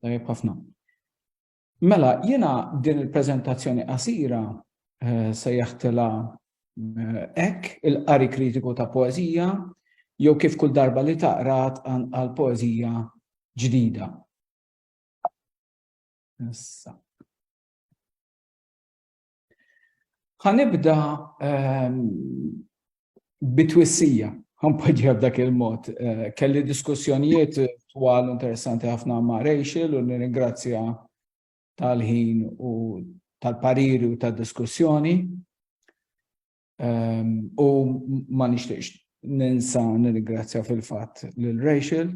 Tajjeb ħafna. Mela, jiena din il-preżentazzjoni qasira eh, se jaħtela hekk eh, il-qari kritiku ta' poeżija jew kif kull darba li taqrat għal poeżija ġdida. Issa. Ħanibda ehm, bitwissija, ħanpoġġiha b'dak il-mod. Eh, kelli diskussjonijiet twal interessanti ħafna ma' Rachel u nirringrazzja tal-ħin u tal-pariri u tal-diskussjoni. U ma nixtieqx ninsa nirringrazzja fil-fatt lil Rachel.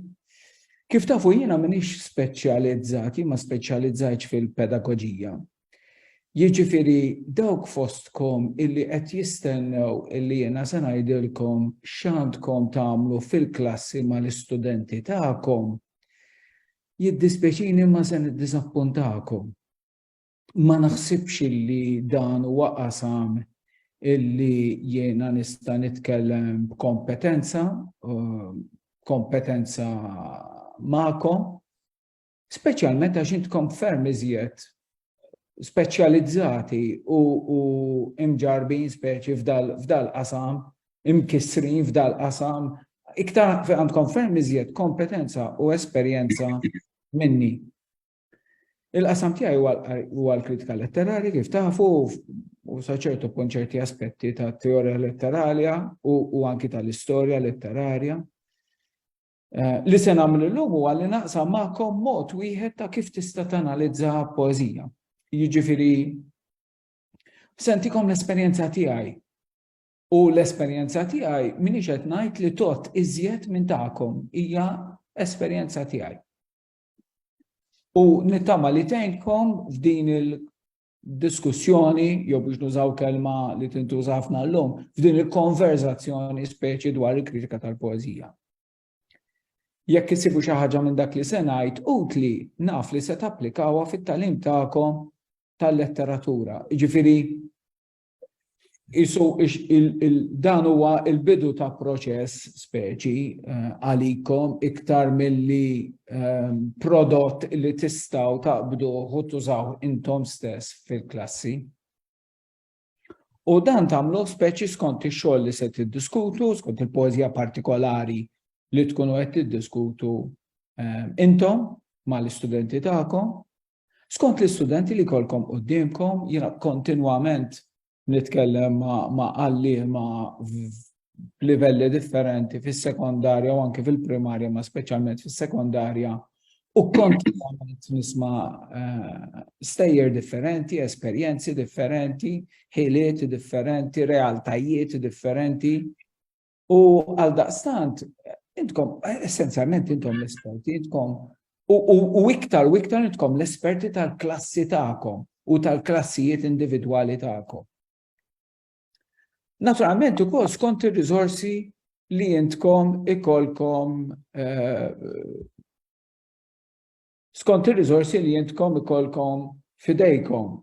Kif tafu jiena m'iniex speċjalizzat, jien ma speċjalizzajtx fil-pedagoġija. Jiġifieri dawk fostkom illi qed jistennew illi jiena se ngħidilkom x'għandkom tagħmlu fil-klassi mal-istudenti tagħkom, jiddispjaċini imma se niddiżappuntakom. ma naħsibx illi dan huwa qasam illi jiena nista' nitkellem b'kompetenza, um, kompetenza ma'kom, speċjalment għax intkom ferm iżjed speċjalizzati u, u imġarbin speċi f'dal qasam, imkissrin f'dal qasam, iktar għandkom ferm iżjed kompetenza u esperjenza minni. Il-qasam tiegħi huwa l-kritika letterali, kif tafu, u saċertu punt ċerti aspetti ta' teorija letteralja u anki tal-istorja letterarja. Eh, li se nagħmel illum huwa li naqsa magħkom mod wieħed ta' kif tista' tanalizza poeżija. Jiġifieri sentikom l-esperjenza tiegħi u l-esperjenza tiegħi minix qed ngħid li tot iżjed minn tagħkom hija esperjenza tiegħi. U nittama li tgħinkom f'din il-diskussjoni, jew biex nużaw kelma li tintuża ħafna llum, f'din il-konverzazzjoni speċi dwar il-kritika tal-poezija. Jekk isibu xi ħaġa minn dak li se ngħid, utli naf li se tapplikawha fit-talim tagħkom tal-letteratura. Jiġifieri Isu dan huwa il-bidu ta' proċess speċi eh, għalikom iktar milli eh, prodott li tistaw taqbdu u tużaw intom stess fil-klassi. U dan tamlu speċi skont ix-xogħol li se tiddiskutu, skont il-poeżija partikolari li tkunu qed tiddiskutu eh, intom mal-istudenti tagħkom Skont l-istudenti li jkollkom quddiemkom, jiena kontinwament nitkellem ma' għalliema b'livelli differenti fis-sekondarja u anke fil-primarja, ma' speċjalment fis-sekondarja, u kontinwament nisma' eh, stejjer differenti, esperjenzi differenti, ħiliet differenti, realtajiet differenti, U għal daqstant, intkom, essenzjalment intom l-esperti, intkom, u iktar u iktar intkom l-esperti tal-klassi ta'kom u tal-klassijiet individwali ta'kom. Naturalment, u kol skont il-rizorsi li intkom ikolkom eh, skont il-rizorsi li intkom ikolkom fidejkom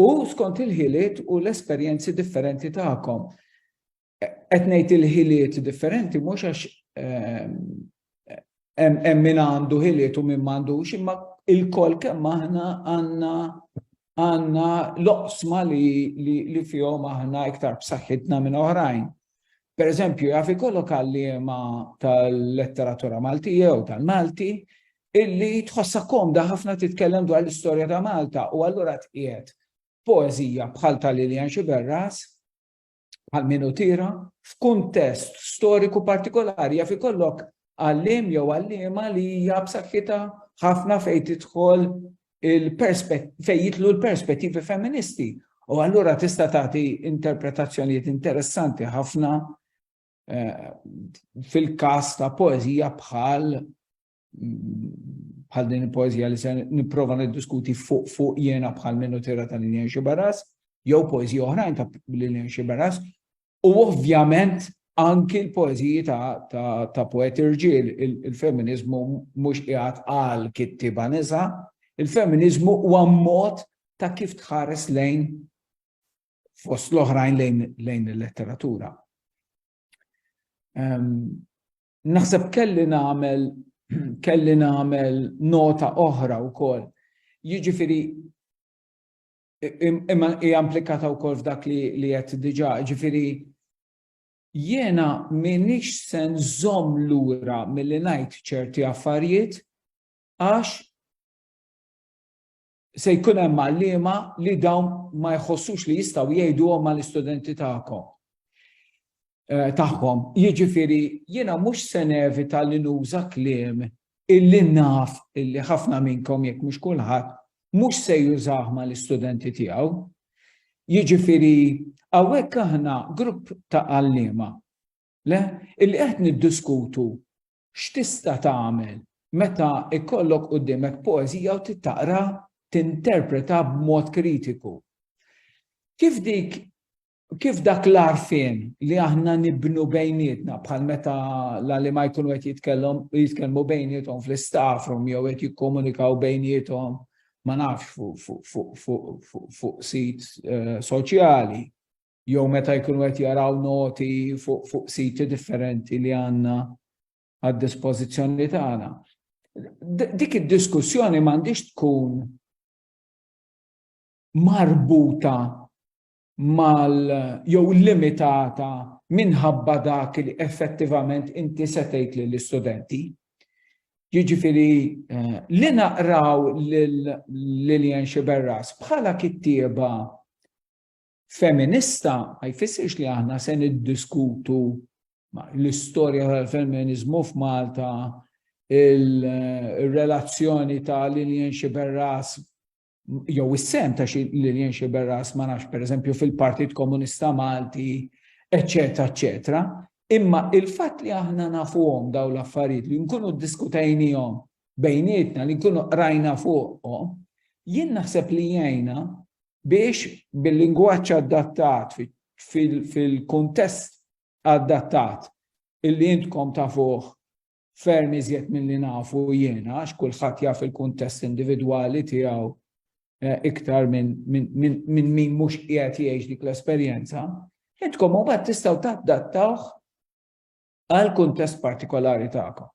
u skont il-ħiliet u l-esperjenzi differenti ta'kom. qed ngħid il-ħiliet differenti mhux għax ehm, hemm min għandu ħiliet u min m'għandux, imma il-kol kemm aħna għandna għandna loqsma li, li, li fihom aħna iktar b'saħħitna minn oħrajn. Per eżempju, jaf ikollok għalliema tal-letteratura Malti jew tal-Malti illi tħossa komda ħafna titkellem dwar l-istorja ta' Malta u allura tqiegħed poezija bħal tal-Lilian Xiberras bħal min hu tira, f'kuntest storiku partikolari jaf ikollok għallim jew għallima li hija b'saħħitha ħafna fejn tidħol fejn jitlu l-perspettivi femministi. U allura tista' tagħti interpretazzjonijiet interessanti ħafna eh, fil-każ ta' poeżija bħal bħal din il-poezija li se nipprova niddiskuti fuq fuq jena bħal minnu tira ta' Lilian Xibaras, jew poezija oħrajn ta' Lilian Xibaras, u ovvjament anki l-poeziji ta', ta, ta poeti rġiel, il-feminizmu mhux qiegħed għal kittiba nisa, il-feminizmu huwa mod ta' kif tħares lejn fost l-oħrajn lejn, lejn il-letteratura. Um, Naħseb kelli nagħmel kelli nagħmel nota oħra wkoll. Jiġifieri imma hija implikata wkoll f'dak li li qed diġà, jiġifieri jiena m'iniex se nżomm lura milli ngħid ċerti affarijiet għax Se jkun hemm għalliema li dawn ma jħossux li jistgħu jgħiduhom mal-istudenti tagħkom eh, tagħhom. Jiġifieri jiena mhux se nevita li nuża kliem illi naf illi ħafna minnkom jekk mhux kulħadd mhux se jużah mal-istudenti tiegħu. Jiġifieri hawnhekk aħna grupp ta' għalliema le illi qed niddiskutu X'tista' tagħmel meta jkollok quddiemek poeżija u trid taqra tinterpretha b'mod kritiku? Kif dik kif dak l-għarfien li aħna nibnu bejnietna bħal meta l-għalima jkunu qed jitkellhom jitkellmu bejniethom fl-istaff room jew qed jikkomunikaw bejniethom ma nafx fuq sit eh, soċjali. jew meta jkunu qed jaraw noti fuq siti differenti li għandna għad-dispożizzjoni tagħna. Dik id-diskussjoni m'għandix tkun marbuta mal jew limitata minħabba dak li effettivament inti se tgħid lill-istudenti. Jiġifieri eh, li naqraw lil Lillian Xiberras bħala kittieba Feminista ma jfissirx li aħna se niddiskutu l-istorja tal-femminizmu f'Malta, il-relazzjoni ta' Lilian Xiberras jew is-sem ta' Lilian Xiberras ma nafx pereżempju fil-Partit Komunista Malti, eċċetera, eċċetera. Imma il-fatt li aħna nafuhom dawn l-affarijiet li nkunu ddiskutejnihom bejnietna li nkunu qrajna fuqhom, jien naħseb li jgħinna biex bil-lingwaġġ adattat fil-kuntest adattat illi intkom tafuh ferm iżjed milli nafu jiena għax kulħadd jaf il-kuntest individwali tiegħu eh, iktar minn min mhux qiegħed jgħix dik l-esperjenza, intkom mbagħad tistgħu tadattawh għal kuntest partikolari tagħkom.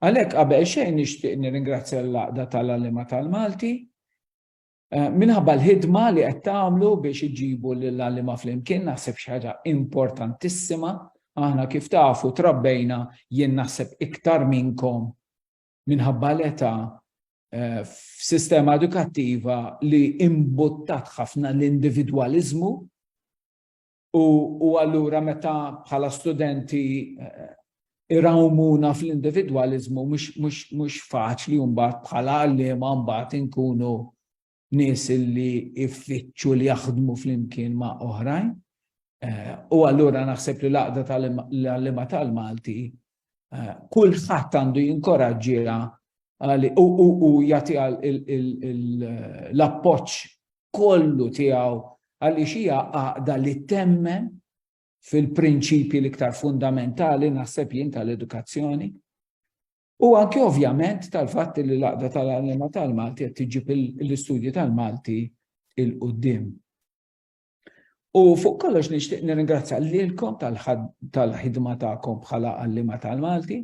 Għalhekk qabel xejn nixtieq nirringrazzja l-Għaqda tal-Għalliema tal-Malti eh, minħabba l-ħidma li qed tagħmlu biex iġibu lill-għalliema flimkien naħseb xi ħaġa importantissima. Aħna kif tafu trabbejna jien naħseb iktar minnkom minħabba l-età eh, f'sistema edukattiva li imbuttat ħafna l-individwaliżmu U allura meta bħala studenti eh, irawmuna fl-individualizmu mhux faċli mbagħad bħala għalliema mbagħad inkunu nies li iffittxu li jaħdmu flimkien ma' oħrajn. Eh, u allura naħseb li l-għaqda tal-għallima tal-Malti Eh, kulħadd għandu jinkoraġġiha u jagħti l-appoġġ kollu tiegħu għaliex hija għaqda li temmen fil-prinċipji l-iktar fundamentali naħseb jien tal-edukazzjoni. U anke ovvjament tal-fatt li l-għaqda tal-għalima tal-Malti qed tiġib l-istudji tal-Malti il-qudiem. U fuq kollox nixtieq nirringrazzja lilkom tal-ħidma tagħkom bħala għallima tal-Malti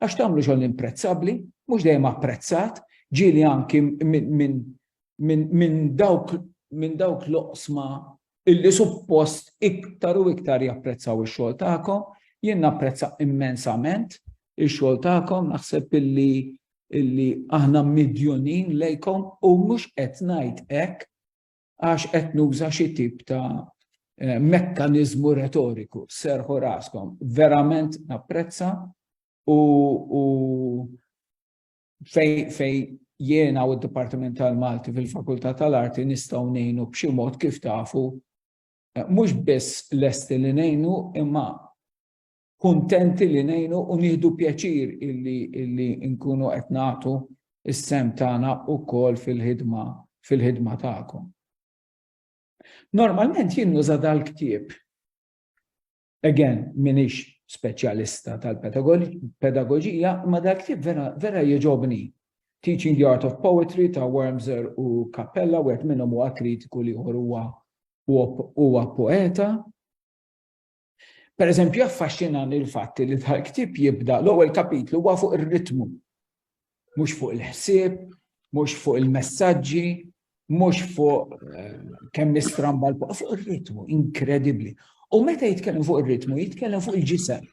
għax tagħmlu xogħol imprezzabbli, mhux dejjem apprezzat, ġieli anki minn dawk minn dawk l-oqsma illi suppost iktar u iktar japprezzaw ix-xogħol tagħkom, jien napprezza immensament ix-xogħol tagħkom, naħseb illi illi aħna midjunin lejkom u mhux qed ngħid hekk għax qed nuża xi tip ta' eh, mekkaniżmu retoriku, serħu raskom, verament napprezza u, u fej, fej jiena u d-Dipartiment tal-Malti fil-Fakultà tal-Arti nistgħu ngħinu b'xi mod kif tafu eh, mhux biss lesti li ngħinu imma kuntenti li ngħinu u nieħdu pjaċir illi illi nkunu qed nagħtu is-sem tagħna wkoll fil-ħidma fil-ħidma tagħkom. Normalment jien nuża dal-ktieb. Again, minix speċjalista tal-pedagogija, ma dal-ktieb vera, vera jieġobni. Teaching the Art of Poetry ta' Wormser u Cappella, u għet minnom u kritiku li huwa poeta, Pereżempju, jaffaxxinani l-fatt li l-ktieb jibda l-ewwel kapitlu huwa fuq ir-ritmu, mhux fuq il-ħsieb, mhux fuq il-messaġġi, mhux fuq eh, kemm nistramba l fuq ir-ritmu, inkredibbli. U meta jitkellem fuq ir-ritmu, jitkellem fuq il-ġisem.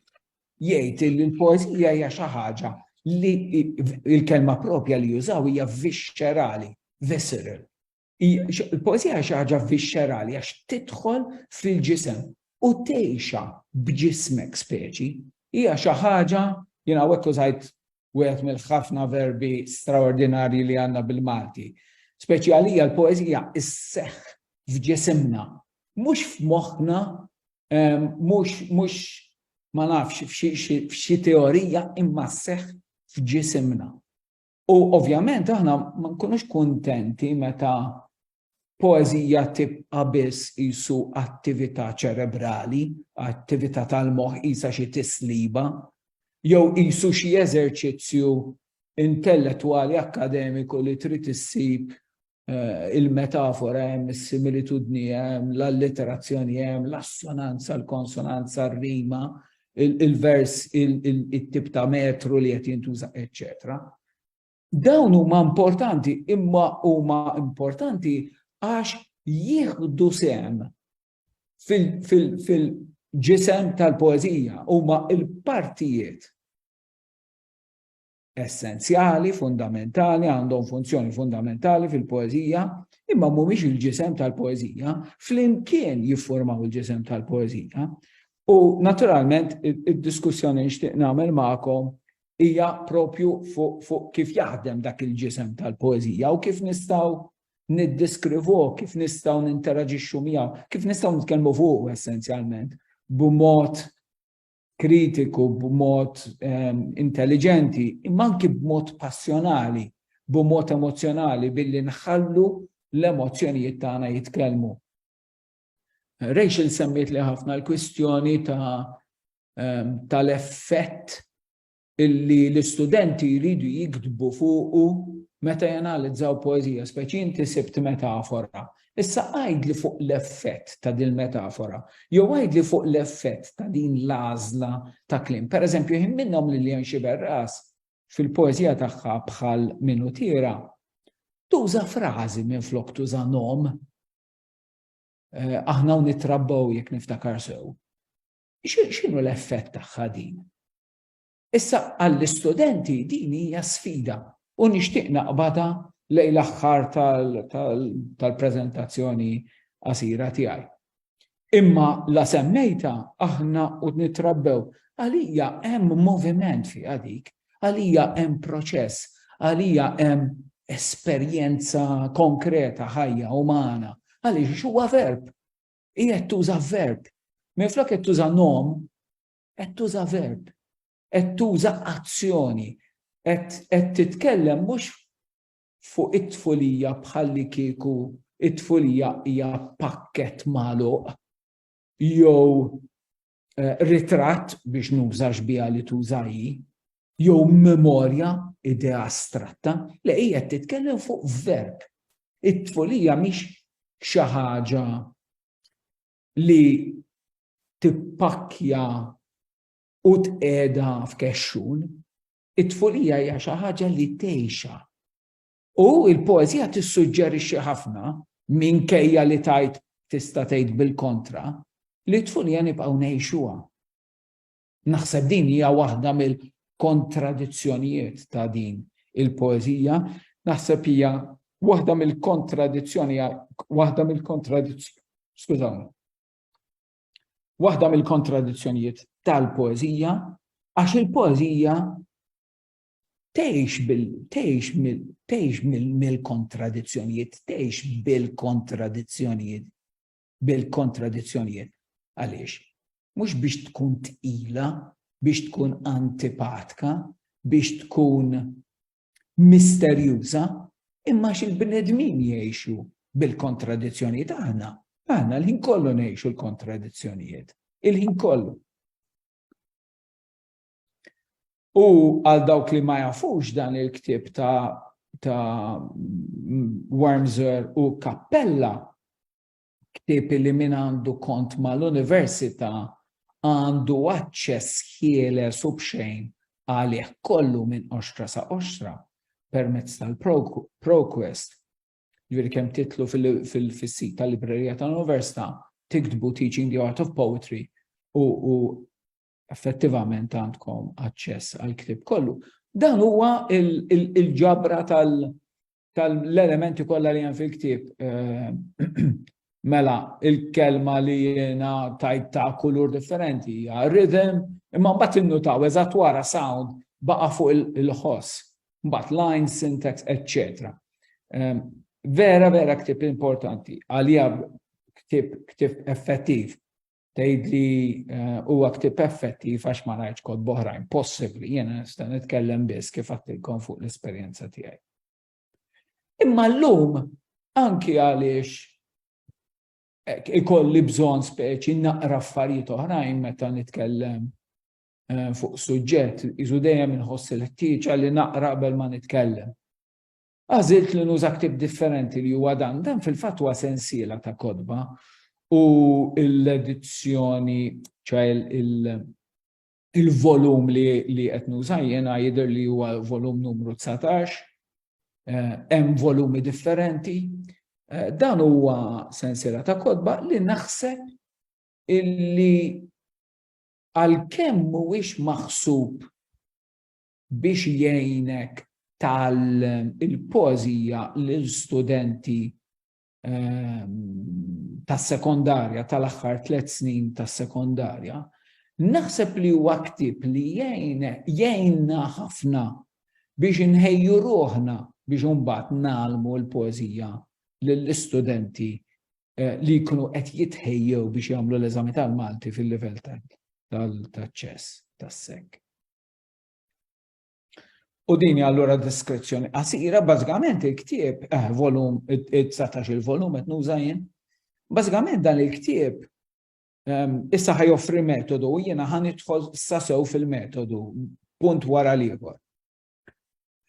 Jgħid li l-poeżija hija xi ħaġa li il-kelma propja li jużaw hija viscerali, visceral. Il-poezija xi ħaġa vixxerali għax tidħol fil-ġisem u tgħixha b'ġismek speċi. Hija xi ħaġa jien hawnhekk użajt wieħed mill-ħafna verbi straordinarji li għandna bil-Malti. Speċi għalija l-poezija isseħħ f'ġisimna, mhux f'moħħna, ehm, mhux mhux ma nafx f'xi teorija imma sseħħ f'ġisimna. U ovvjament aħna ma nkunux kuntenti meta poeżija tibqa' biss isu attività ċerebrali, attività tal-moħħ isa xi tisliba, jew isu xi eżerċizzju intellettwali akkademiku li trid issib il-metafora hemm, is-similitudni hemm, l-allitterazzjoni hemm, l-assonanza, l-konsonanza, r-rima, il-vers, il-tip ta' metru li qed jintuża, eċċetera. Dawn huma importanti, imma huma importanti għax jieħdu sem fil-ġisem tal-poezija, huma il-partijiet essenzjali, fundamentali, għandhom funzjoni fundamentali fil-poeżija, imma mhumiex il-ġisem tal-poeżija, flimkien jiffurmaw il-ġisem tal-poeżija. U naturalment id-diskussjoni nixtieq nagħmel magħkom hija propju fuq fu kif jaħdem dak il-ġisem tal-poeżija u kif nistgħu niddiskrivu, kif nistgħu ninteraġixxu miegħu, kif nistgħu nitkellmu fuq essenzjalment b'mod kritiku b'mod ehm, intelligenti, imma anki b'mod passjonali, b'mod emozjonali billi nħallu l-emozzjonijiet tagħna jitkellmu. Rachel semmiet li ħafna l-kwistjoni ta' ehm, tal-effett illi l-istudenti jridu jiktbu fuqu meta janalizzaw poeżija, speċi inti sibt metafora. Issa għidli fuq l-effett ta' din metafora jew għidli fuq l-effett ta' din l-għażla ta' kliem. Per eżempju, jien minnhom li Lilian Xiberras fil-poeżija tagħha bħal minu tira tuża frażi minn flok tuża nom Eh, aħna u nitrabbaw jekk niftakar sew. X'inhu l-effett tagħha din? Issa għall-istudenti din hija sfida u nixtieq naqbadha lejn l-aħħar tal-preżentazzjoni qasira tiegħi. Imma la semmejtha aħna u nittrabbew, għalija hemm moviment fiha dik, għalija hemm proċess, għalija hemm esperjenza konkreta ħajja umana, għaliex huwa verb, qiegħed tuża verb. Minflok qed tuża nom, qed tuża verb, qed tuża azzjoni, qed titkellem mhux fuq it-tfulija bħalli kieku it-tfulija hija pakket magħluq jew eh, ritratt biex nużax biha li tuża jew memorja idea astratta, li hija titkellem fuq verb. It-tfulija mhix xi ħaġa li tippakkja u tqeda f'kexxun, it-tfulija hija xi ħaġa li tgħixha. U l-poeżija tissuġġerixxi ħafna minkejja li tajt tista' tgħid bil-kontra li t-tfulija nibqgħu ngħixuha. Naħseb din hija waħda mill-kontradizzjonijiet ta' din il-poeżija, naħseb hija waħda mill-kontradizzjoni waħda mill-kontradizzjoni, skużawni. Waħda mill-kontradizzjonijiet tal-poeżija għax il-poeżija tgħix bil tgħix mill tgħix mill-kontradizzjonijiet, tgħix bil-kontradizzjonijiet. bil-kontradizzjonijiet. Għaliex? Mhux biex tkun tqila, biex tkun antipatka, biex tkun misterjuża, imma xil-bnedmin jgħixu bil-kontradizzjonijiet aħna. Aħna l-ħin kollu ngħixu l-kontradizzjonijiet. Il-ħin kollu. U għal dawk li ma jafux dan il-ktib ta' ta' Wormser u Kappella, ktib li min għandu kont mal-Università għandu aċċess ħieles u bxejn għalih kollu minn oxtra sa' oxtra permezz tal-ProQuest. Ġviri kem titlu fil-sit tal-librerija tal-Università, tiktbu Teaching the Art of Poetry u effettivament għandkom aċċess għal ktib kollu. Dan huwa il-ġabra tal-elementi kollha li hemm fil-ktib. Eh, mela, il-kelma li jiena tajt ta' kulur differenti hija rhythm, imma mbagħad innutaw eżatt wara sound baqa' fuq il-ħoss, mbagħad line, syntax, etc. Eh, vera, vera ktib importanti, għalija ktib effettiv tgħidli eh, huwa ktib effettiv għax ma rajtx kod boħrajn possibbli, jiena nista' nitkellem biss kif għattilkom fuq l-esperjenza tiegħi. Imma llum anki għaliex eh, ikolli bżonn speċi naqra affarijiet oħrajn meta nitkellem eh, fuq suġġett, iżu dejjem inħoss il-ħtieġa li naqra qabel ma nitkellem. Għażilt li nuża ktieb differenti li huwa dan. Dan fil-fatt huwa sensiela ta' kotba u l-edizzjoni, ċoħe il-volum li qed nuża jiena jidher li huwa volum numru 19, hemm volumi differenti. Dan huwa sensiela ta' kotba li naħseb illi għalkemm mhuwiex maħsub biex jgħinek tgħallem il-poeżija lil studenti ehm, tas-sekondarja tal-aħħar tliet snin tas-sekondarja, naħseb li huwa ktieb li jgħinna ħafna biex inħejju ruħna biex imbagħad nagħlmu l-poeżija lill-istudenti eh, li jkunu qed jitħejjew biex jagħmlu l-eżami tal-Malti fil-livell tal-ċess tas-sek. U din allura diskrezzjoni qasira, bażikament il-ktieb, eh, volum, 19 il-volum qed nuża jien. Bażikament dan il-ktieb ehm, issa ħaj joffri metodu u jiena ħan idħol sasew fil-metodu punt wara l-ieħor.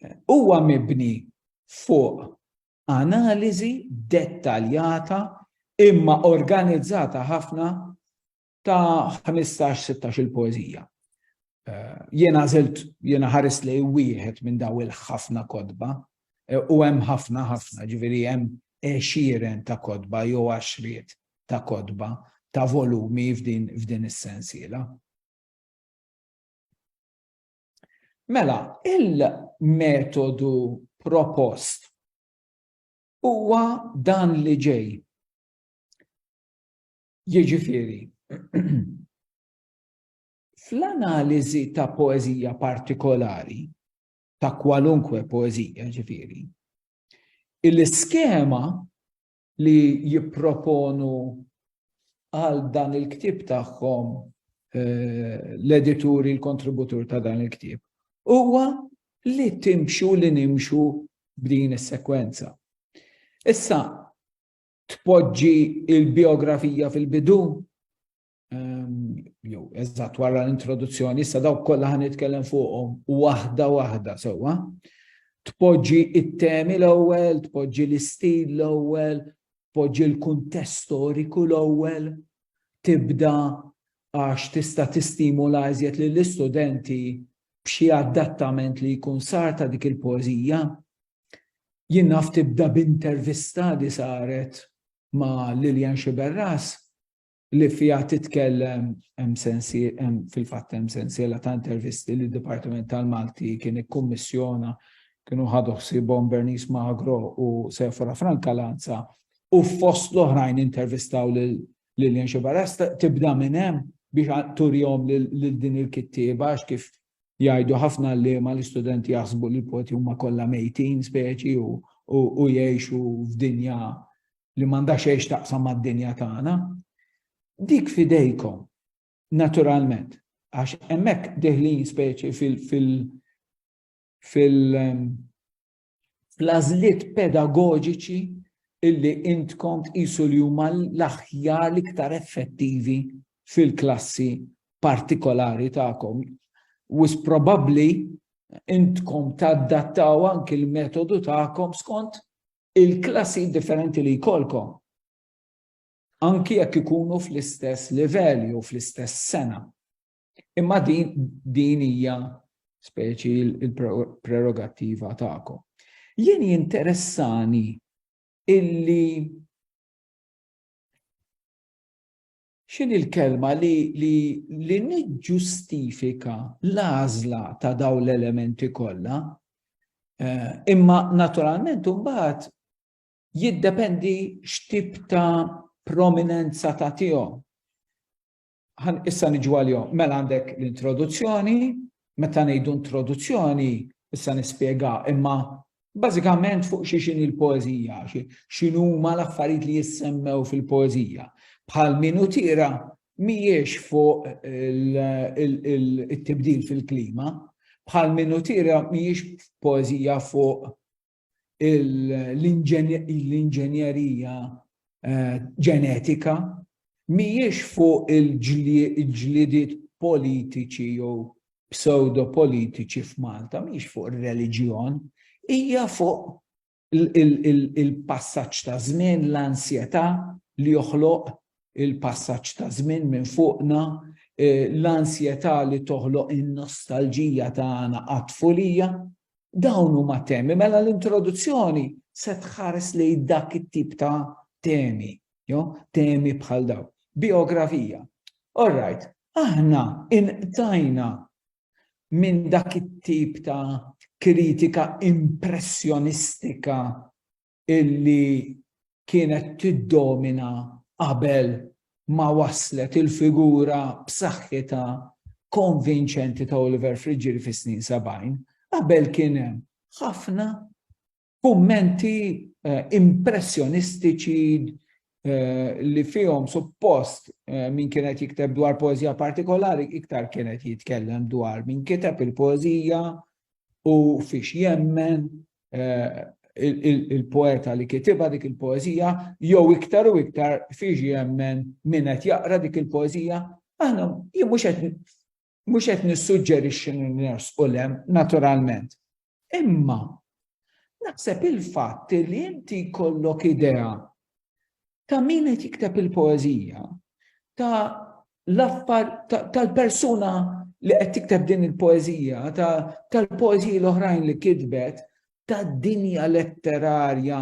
Eh, huwa mibni fuq analiżi dettaljata imma organizzata ħafna ta' ħmistax, sittax-il poeżija. Jiena għażilt, jiena ħarist lejn wieħed minn dawn il-ħafna kotba, u hemm ħafna, ħafna, ġifieri hemm għexieren ta' kotba jew għaxriet ta' kotba, ta' volumi f'din is-sensiela. Mela, il-metodu propost huwa dan li ġej. Jiġifieri, fl-analiżi ta' poeżija partikolari, ta' kwalunkwe poeżija ġifieri, il-iskema li jipproponu għal dan il-ktieb tagħhom eh, l-edituri, l-kontributur ta' dan il-ktieb, huwa li timxu li nimxu b'din is-sekwenza. Issa, tpoġġi il-biografija fil-bidu, ehm, jew eżatt wara l-introduzzjoni, issa dawk kollha ħan nitkellem fuqhom waħda waħda sewwa. Tpoġġi it-temi l-ewwel, tpoġġi l-istil l-ewwel, tpoġġi l-kuntest storiku l-ewwel, tibda għax tista' tistimula iżjed lill-istudenti b'xi adattament li jkun sar ta' dik il-poeżija Jien naf tibda b'intervista li saret ma' Lilian Sciberras li fiha titkellem hemm fil-fatt hemm sensiela ta' intervisti li d-Dipartiment tal-Malti kien ikkummissjona kienu ħadu ħsiebhom Bernice Magro u Sephora Franca Lanza u fost l-oħrajn intervistaw lil Lilian Sciberras tibda minn hemm biex turihom lil din il-kittieba għax kif Jgħidu ħafna għalliema li studenti jaħsbu li l-poti huma kollha mejtin speċi u jgħixu f'dinja li m'għandha xejn x'taqsam mad-dinja tagħna. Dik f'idejkom, naturalment, għax hemmhekk deħlin speċi fil- fil- fil- fl-għażliet pedagoġiċi illi intkom tqisu li huma l-aħjar l-iktar effettivi fil-klassi partikolari tagħkom. Wis probabbli intkom taddattaw anki l-metodu tagħkom skont il-klassi differenti li jkollkom. Anki jekk ikunu fl-istess livell jew fl-istess sena. Imma din din hija speċi il-prerogattiva tagħkom. Jien jinteressani illi xin il-kelma li, li, li niġġustifika l-għażla ta' daw l-elementi kollha, eh, imma naturalment imbagħad jiddependi x'tip ta' prominenza ta' tihom. Ħan issa niġu għalihom. Mela għandek l-introduzzjoni, meta ngħidu introduzzjoni, issa nispjega, imma bażikament fuq xi xini l-poeżija, x'inhuma l-affarijiet li jissemmew fil-poeżija. Bħal minu tira mhijiex fuq it-tibdil fil-klima, bħal minu tira mhijiex poeżija fuq l-inġenjerija eh, ġenetika mhijiex fuq il-ġlidiet politiċi jew pseudo politiċi f'Malta, mhijiex fuq ir-reliġjon, hija fuq il-passaġġ ta' żmien, l-ansjetà li joħloq il-passaġġ ta' żmien minn fuqna, eh, l-ansjetà li toħloq in-nostalġija tagħna għat-tfulija, Dawn huma temi, mela l-introduzzjoni se tħares lejn dak it-tip ta' temi, jo, temi bħal daw. Biografija. All right, aħna inqtajna minn dak it-tip ta' kritika impressjonistika illi kienet tiddomina qabel ma waslet il-figura b'saħħitha konvinċenti ta' Oliver Friggieri fis-snin 70, qabel kien hemm ħafna kummenti eh, impressjonistiċi eh, li fihom suppost eh, min kienet jikteb dwar poezija partikolari iktar kienet jitkellem dwar min kiteb il-poezija u fiex jemmen il-poeta li kitiba dik il-poezija, jew iktar u iktar fiex jemmen min qed jaqra dik il-poezija, aħna jien mhux qed mhux qed nissuġġerixxi u lem naturalment. Imma naħseb il-fatt li inti jkollok idea ta' min qed jikteb il-poeżija, ta' l-affar tal-persuna li qed tikteb din il-poeżija, tal-poeżiji l-oħrajn li kitbet, tad-dinja letterarja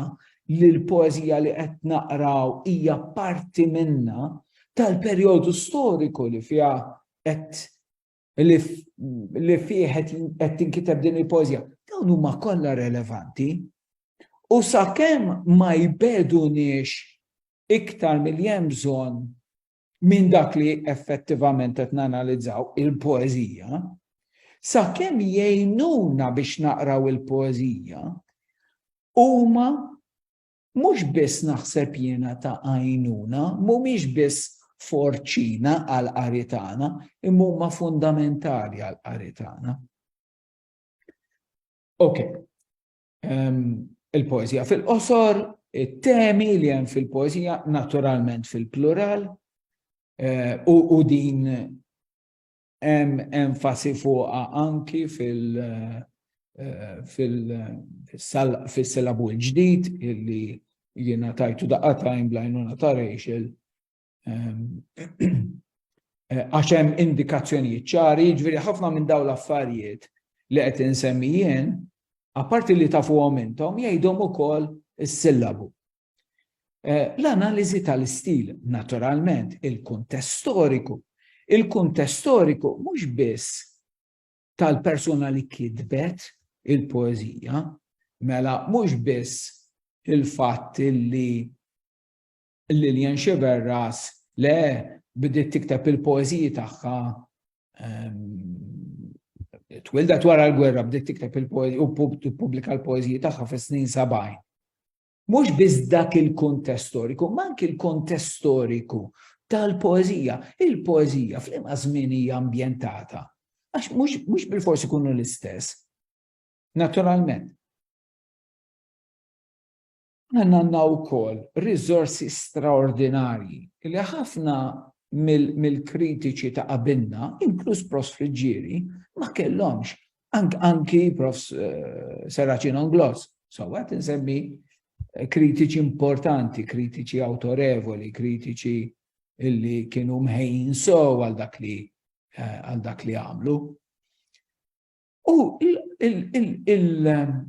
li l-poeżija li qed naqraw hija parti minna, tal-perjodu storiku li fiha qed li fih qed tinkiteb din il-pożja, dawn huma kollha relevanti. U sakemm ma jbeduniex iktar milli hemm bżonn minn dak li effettivament qed nanalizzaw il-poeżija, sakemm jgħinuna biex naqraw il-poeżija, huma Mhux biss naħseb jiena ta' għajnuna, mhumiex biss forċina għall-qari tagħna, imma huma fundamentali għall-qari tagħna. Ok, ehm, il-poezija fil-qosor, it-temi li hemm fil-poezija naturalment fil-plural, eh, u din hemm enfasi fuqha anki fil-silabu l-ġdid illi jiena tajtu daqqa tajn blajnuna ta' Rachel għax hemm indikazzjonijiet ċari, jiġifieri ħafna minn dawn l-affarijiet li qed insemmijien, apparti li tafuhom intom, jgħidhom ukoll is-sillabu. Eh, l-analiżi tal-istil, naturalment, il-kuntest storiku. Il-kuntest storiku mhux biss tal-persuna li kitbet il-poezija, mela mhux biss il-fatt li Lilian Xiverras le bdiet tikteb il-poeziji tagħha ehm, twildet wara l-gwerra bdiet tikteb il-poeziji u pubblika l-poeziji tagħha fis-snin 70. Mhux biss dak il-kuntest storiku, ma anki l-kontest storiku tal-poeżija. Il-poeżija fl-imqas żmien hija ambjentata. Għax mhux bil-forsi kunu l-istess. Naturalment. Għanna għanna u kol rizorsi straordinarji li ħafna mill-kritiċi ta' qabilna, inkluż Prost Friġġieri, ma kellhomx Anki prof Serraċin Onglos, so għat nsemmi eh, kritiċi importanti, kritiċi autorevoli, kritiċi illi kienu mħejn so għal dak li eh, għal dak li għamlu. U il-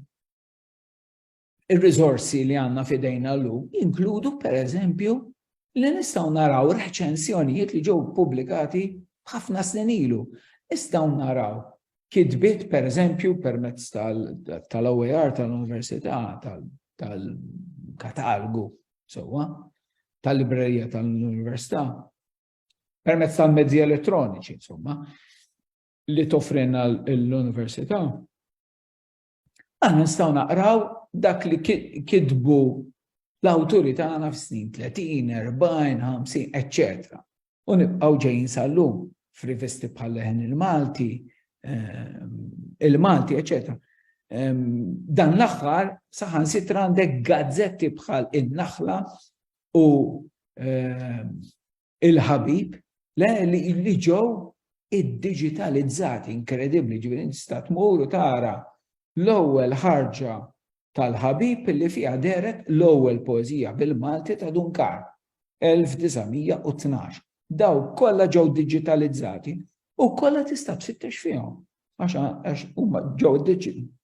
ir-riżorsi li għandna f'idejna llum jinkludu pereżempju li nistgħu naraw reċensjonijiet li ġew pubblikati ħafna snin ilu. Nistgħu naraw kitbiet pereżempju permezz tal-OER tal-Università tal-katalgu sewwa tal-librerija tal-Università permezz tal-mezzi elettroniċi insomma li tofrina l-Università Aħna nistgħu naqraw dak li kitbu l-awturi tagħna f'snin 30, 40, 50, etc. U nibqgħu ġejjin sal-lum f'rivisti bħal leħen il-Malti, ehm, il-Malti, etc. Ehm, dan l-aħħar saħan sitra għandek gazzetti bħal in-naħla u ehm, il-ħabib, le li ġew iddiġitalizzati, inkredibbli, ġifieri tista' tmur u tara l-ewwel ħarġa tal-ħabib li fiha deret l-ewwel poeżija bil-Malti ta' Dunkar 1912. Daw kollha ġew digitalizzati u kollha tista' tfittex fihom għax huma ġew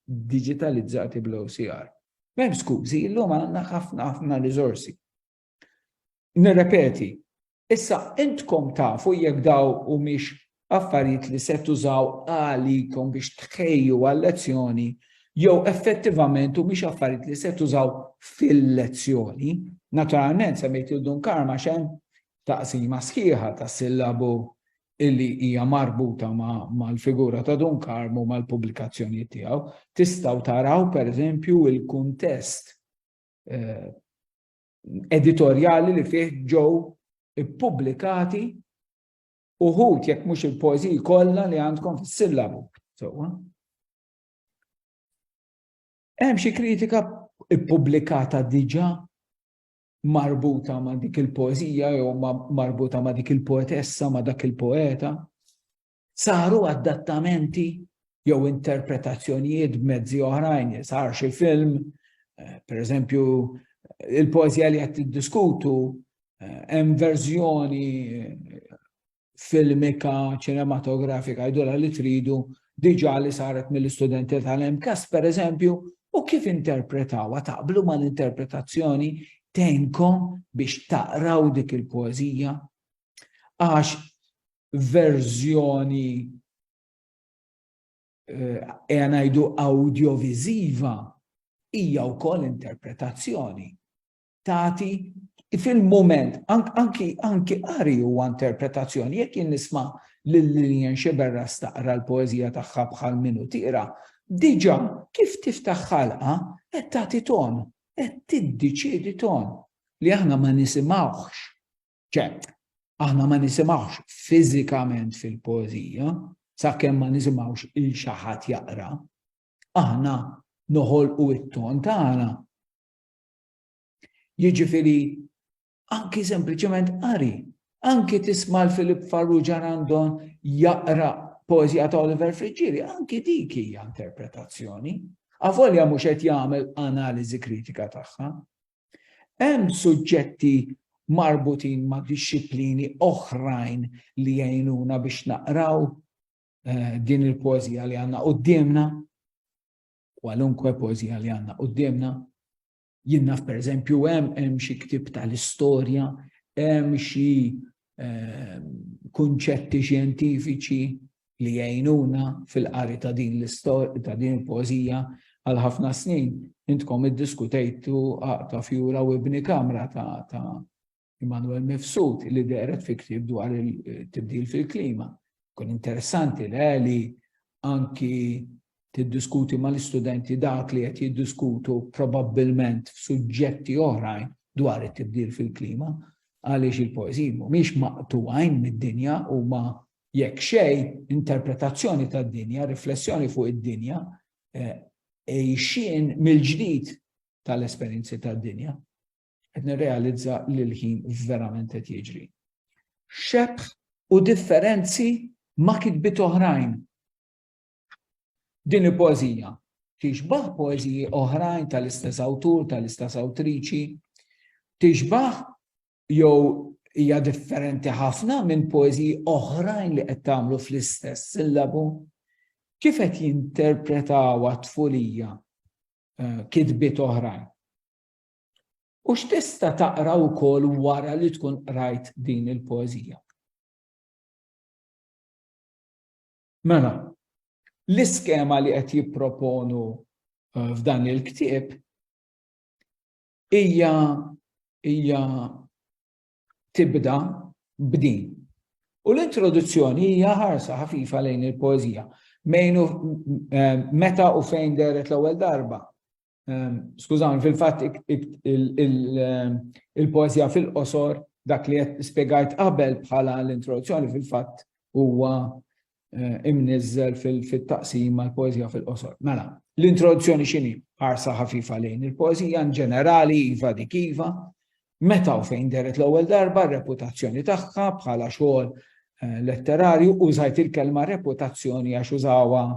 digitalizzati bl-OCR. Mem skużi, illum għandna ħafna ħafna riżorsi. Nirrepeti, issa intkom tafu jekk daw humiex affarijiet li se tużaw għalikom biex tħejju għal-lezzjoni jew effettivament humiex affarijiet li se tużaw fil-lezzjoni. Naturalment semmejt il dun karma xem taqsima sħiħa ta' sillabu illi hija marbuta mal-figura ta' dun karmu mal-pubblikazzjoni tiegħu. Tistgħu taraw pereżempju il-kuntest eh, editorjali li fih ġew ippubblikati uħud jekk mhux il-poeżiji kollha li għandkom fis-sillabu. Sewwa. Hemm xi kritika ippubblikata diġà marbuta ma' dik il-poeżija jew marbuta ma' dik il-poetessa ma' dak il-poeta. Saru adattamenti jew interpretazzjonijiet b'mezzi oħrajn, sar xi film, eh, per eżempju, il-poezija li qed tiddiskutu eh, hemm verżjoni eh, filmika, ċinematografika, jdola li tridu diġa li saret mill-istudenti tal-MKAS, per eżempju, u kif interpretawa taqblu ma l-interpretazzjoni tenkom biex taqraw dik il-poezija. Għax verżjoni eja ngħidu awdjoviżiva hija wkoll interpretazzjoni. Tati fil-moment, anki anki qari huwa interpretazzjoni, jekk jien nisma' lil Lillian Xiberra staqra l-poeżija tagħha bħal minu tira, diġà kif tiftaħ ħalqa qed tagħti ton, qed tiddeċiedi ton li aħna ma nisimgħuhx ċe, aħna ma nisimgħux fiżikament fil-poeżija, sakemm ma nisimgħux il xi ħadd jaqra, aħna noħolqu it-ton tagħna. Jiġifieri anki sempliċement qari, anki tisma' l-Filip Farrugia Randon jaqra poezija ta' Oliver Friġġieri, anki dik hija interpretazzjoni. Avolja mhux qed jagħmel analiżi kritika tagħha, Hemm suġġetti marbutin ma' dixxiplini oħrajn li jgħinuna biex naqraw eh, din il-poezija li għandna qudiemna, kwalunkwe poezija li għandna qudiemna. Jien naf pereżempju hemm hemm xi ktib tal-istorja, hemm xi ehm, kunċetti xjentifiċi li jgħinuna fil-qari ta' din l-istorja ta' din il-pożija għal ħafna snin intkom iddiskutejtu ta' fjura u ibni kamra ta', ta Immanuel Mifsud li deret fi ktib dwar il-tibdil fil-klima. Kun interessanti le li anki tiddiskuti mal-istudenti dak li qed jiddiskutu probabbilment f'suġġetti oħrajn dwar it-tibdil fil-klima għaliex il-poeżiji mhumiex maqtuwajn mid-dinja huma jekk xej interpretazzjoni tad-dinja, riflessjoni fuq id-dinja, eh, ejxien mill-ġdid tal-esperjenzi tad-dinja. qed nirrealizza li l-ħin verament qed jiġri. Xebħ u differenzi ma' kitbit oħrajn. Din il-poezija tixbaħ poeziji oħrajn tal-istess awtur, tal-istess awtriċi, tixbaħ jew hija differenti ħafna minn poeziji oħrajn li qed tagħmlu fl-istess sillabu. Kif qed jinterpretaw t-tfulija eh, kitbiet oħrajn? U x'tista' taqra wkoll wara li tkun qrajt din il-poeżija? Mela, l-iskema li qed jipproponu eh, f'dan il-ktieb hija hija tibda b'din. U l-introduzzjoni hija ħarsa ħafifa lejn il-poeżija. Eh, meta u fejn deret l-ewwel darba Ehm, skużawni, fil-fatt ehm, il-poezija fil-qosor dak li qed spjegajt qabel bħala l-introduzzjoni fil-fatt huwa eh, imniżżel fit-taqsim mal poezija fil-qosor. Mela, l-introduzzjoni x'inhi ħarsa ħafifa lejn il-poezija in ġenerali iva dik iva, meta u fejn deret l-ewwel darba reputazzjoni tagħha bħala xogħol eh, letterarju użajt il-kelma reputazzjoni għax użawa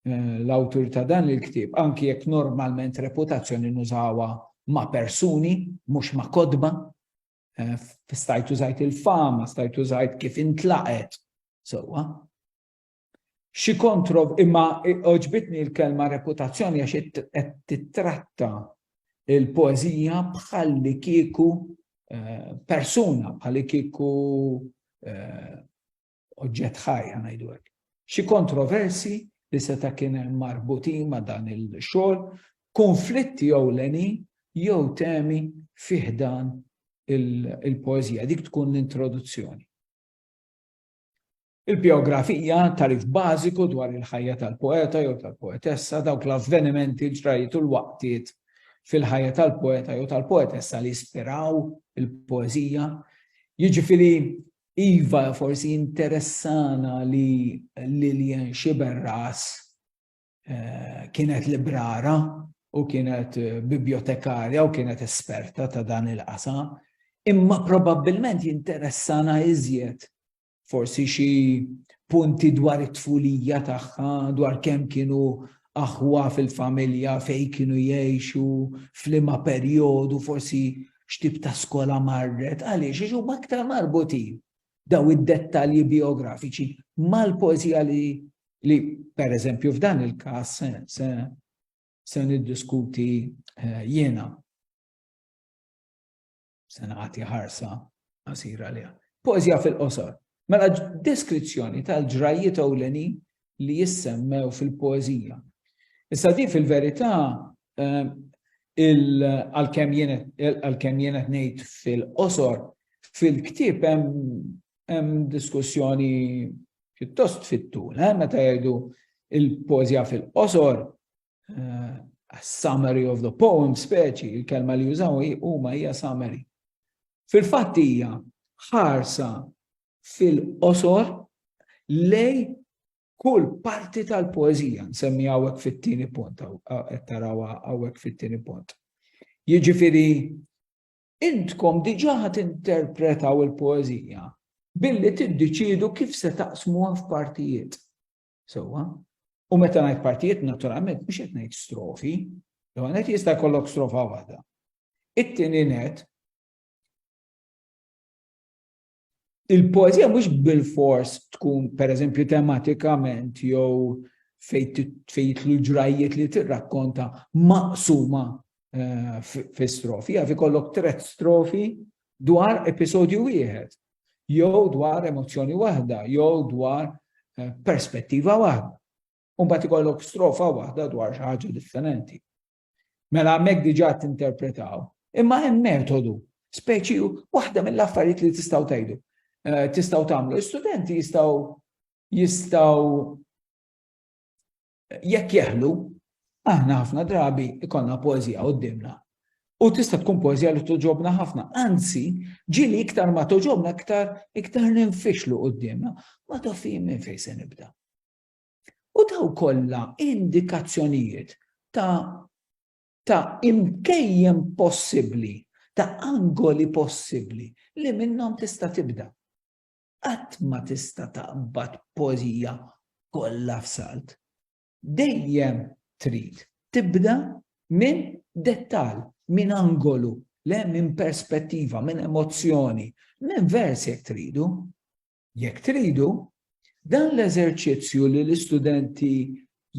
eh, l-awtur ta' dan il-ktieb, anki jekk normalment reputazzjoni nużawa ma' persuni, mhux ma' kodba, eh, stajt użajt il-fama, stajt użajt kif intlaqet, sewwa. Xi kontrov imma oġbitni l-kelma reputazzjoni għax qed titratta il-poezija bħal li kieku eh, persuna, bħal li kieku eh, oġġett ħaj ngħidu hekk. Xi kontroversi li seta' kien hemm marbutin ma' dan il-xogħol, konflitti ewlenin jew temi fih dan il-poeżija, dik tkun l-introduzzjoni. Il-biografija tarif bażiku dwar il-ħajja tal-poeta jew tal-poetessa dawk l-avvenimenti ġrajiet u l-waqtiet fil-ħajja tal-poeta jew tal-poetessa li ispiraw il-poeżija. Jiġifieri Iva, forsi jinteressana li Lillian Sciberras kienet librara u kienet bibjotekarja u kienet esperta ta' dan il-qasam, imma probabbilment jinteressana iżjed forsi xi punti dwar it-tfulija tagħha, dwar kemm kienu aħwa fil-familja, fejn kienu jgħixu, f'liema perjodu, forsi x'tip ta' skola marret, għaliex? Għax huma aktar marbutin dawn id-dettalji bijografiċi mal-poeżija li li pereżempju f'dan il-każ se se se niddiskuti eh, jiena. Se nagħti ħarsa qasira liha. Poeżija fil-qosor. Mela deskrizzjoni tal-ġrajjiet ewlenin li jissemmew fil-poeżija. Issa di fil-verità ehm, għalkemm jien qed ngħid fil-qosor, fil-ktieb hemm diskussjoni pjuttost fit-tul, eh, meta jgħidu il-pożja fil-qosor, eh, summary of the poem speċi, il-kelma li jużaw huma hija summary. Fil-fatt hija ħarsa fil-qosor lej kull parti tal-poezija, nsemmi għawek fit-tini punt, tarawa għawek fit-tini punt. Jiġifiri, intkom diġa ħat interpretaw il-poezija billi tiddeċidu kif se taqsmu f'partijiet. Sewa? U meta ngħid partijiet naturalment mhux qed ngħid strofi, jew qed jista' jkollok strofa waħda. It-tieni net il-poezija mhux bil-fors tkun pereżempju tematikament jew fejn jitlu ġrajjiet li tirrakkonta maqsuma eh, fi strofi, jaf ikollok tret strofi dwar episodju wieħed, jew dwar emozzjoni waħda, jew dwar eh, perspettiva waħda. Umbat ikollok strofa waħda dwar xi ħaġa differenti. Mela hemmhekk diġà tinterpretaw. Imma hemm metodu, speċi waħda mill-affarijiet li tistgħu tgħidu. Eh, tistgħu tagħmlu. Istudenti jistgħu jistgħu jekk jeħlu, aħna ħafna drabi ikonna poezija qoddimna. U tista' tkun poezija li toġobna ħafna. Anzi, ġili iktar ma toġobna iktar iktar ninfixlu qoddimna. Ma tafim minn fejn se nibda. u dawn kollha indikazzjonijiet ta' ta' imkejjen possibbli, ta' angoli possibbli li minnhom tista' tibda. Qatt ma tista' taqbad poeżija kollha f'salt. Dejjem trid tibda minn dettall, minn angolu, le minn perspettiva, minn emozzjoni, minn vers jekk tridu. Jekk tridu, dan l-eżerċizzju li l-istudenti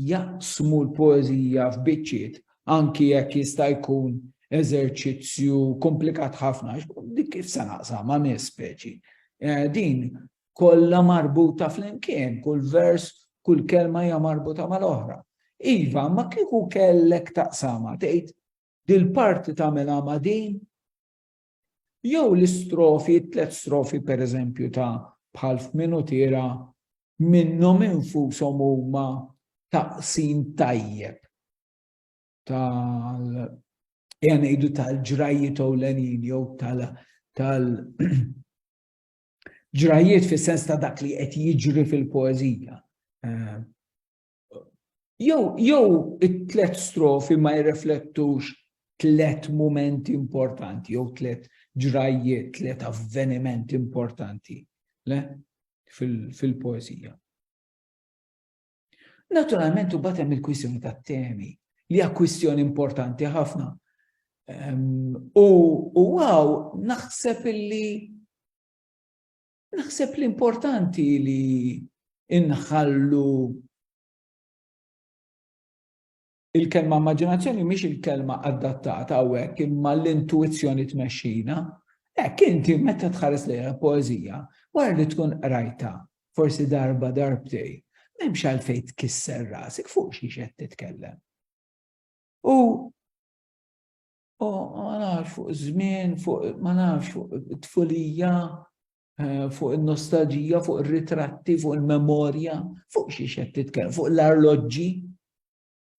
jaqsmu l-poeżija f'biċċiet anki jekk jista' jkun eżerċizzju komplikat ħafna, dik kif se naqsam ma' nies speċi. Eh, din kollha marbuta flimkien, kull vers, kull kelma hija marbuta mal-oħra. Iva, ma kieku kellek taqsama tgħid dil-parti tagħmilha ma' din Jew l-istrofi, it-tliet strofi pereżempju ta' bħal f'Minutiera minnhom infushom huma taqsim tajjeb tal ja ngħidu tal-ġrajjiet ewlenin jew tal tal ġrajjiet fis-sens ta' dak li qed jiġri fil-poeżija. Eh, Jew jew it-tlet strofi ma jirreflettux tlet momenti importanti, jew tlet ġrajjiet, tlet avvenimenti importanti le? fil-poezija. Fil Naturalment u batem il-kwissjoni ta' temi li hija kwistjoni importanti ħafna. Um, u għaw naħseb illi Naħseb li importanti li inħallu il-kelma immaġinazzjoni mhix il-kelma adattata hawnhekk imma l-intuizzjoni tmexxina. Hekk inti meta tħares lejha poeżija, wara li tkun qrajta, forsi darba darbtej, m'hemmx għalfejn tkisser rasek fuq xi qed titkellem. U U ma nafx fuq żmien, fuq ma nafx fuq it-tfulija, eh, fuq il-nostalġija, fuq il-ritratti, fuq il-memorja, fuq xi xed titkellem, fuq l-arloġġi.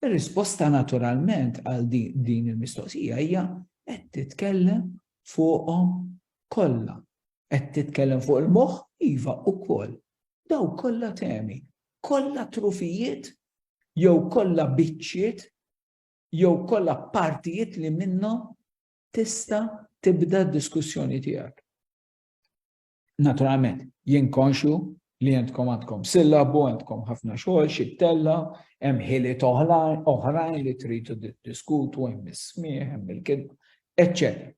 Ir-risposta naturalment għal din il-mistoqsija hija qed titkellem fuqhom kollha. Qed titkellem fuq il-moħħ iva ukoll. Daw kollha temi, kollha trufijiet jew kollha biċċiet jew kollha partijiet li minnhom tista' tibda d-diskussjoni tiegħek. Naturalment, jien konxju li jentkom għandkom sillabu, għandkom ħafna xogħol, xi tella, hemm ħili oħrajn li tridu diskutu, hemm is-smieħ, hemm il-kidba, eċċetera.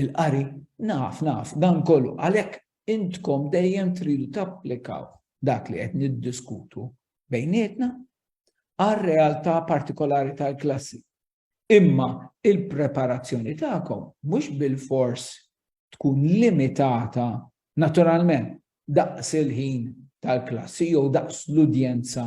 il-qari. Naf, naf, dan kollu. Għalhekk intkom dejjem tridu tapplikaw dak li qed niddiskutu bejnietna għar-realtà partikolari tal-klassi. Imma il-preparazzjoni tagħkom mhux bil-fors tkun limitata naturalment daqs il-ħin tal-klassi jew daqs l-udjenza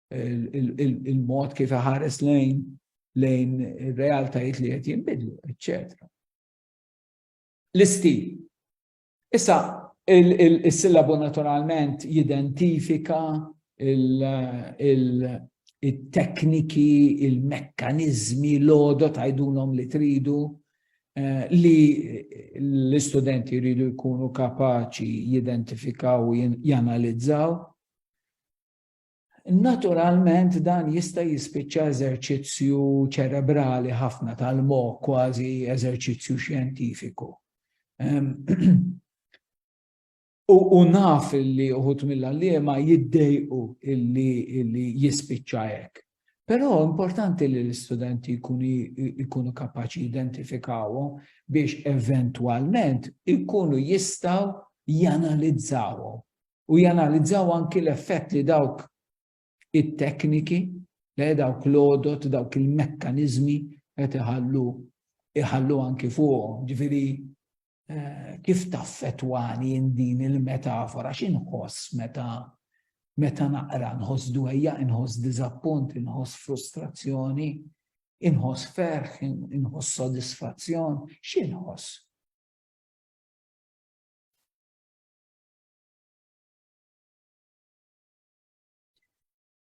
il-mod kif iħares lejn lejn realtajiet li qed jinbidlu, eċċetera. L-istil. Issa, il-sillabu naturalment jidentifika il-tekniki, il-mekkanizmi, l-odo tajdunhom li tridu eh, li l-istudenti jridu jkunu kapaċi jidentifikaw u janalizzaw Naturalment dan jista' jispiċċa eżerċizzju ċerebrali ħafna tal-moħħ kważi eżerċizzju xjentifiku. U naf li uħut mill-għalliema jiddejqu illi jispiċċa hekk. Però importanti li l-istudenti jkunu kapaċi identifikawhom biex eventwalment ikunu jistgħu janalizzawhom u janalizzaw anki l-effett li dawk it-tekniki, li dawk l-odot, dawk il-mekkanizmi qed iħallu iħallu anki fuqhom. Ġifieri eh, kif taffetwani din il-metafora x'inħoss meta meta naqra nħoss dwejja, inħoss diżappunt, inħoss frustrazzjoni, inħoss ferħ, inħoss sodisfazzjon, x'inħoss?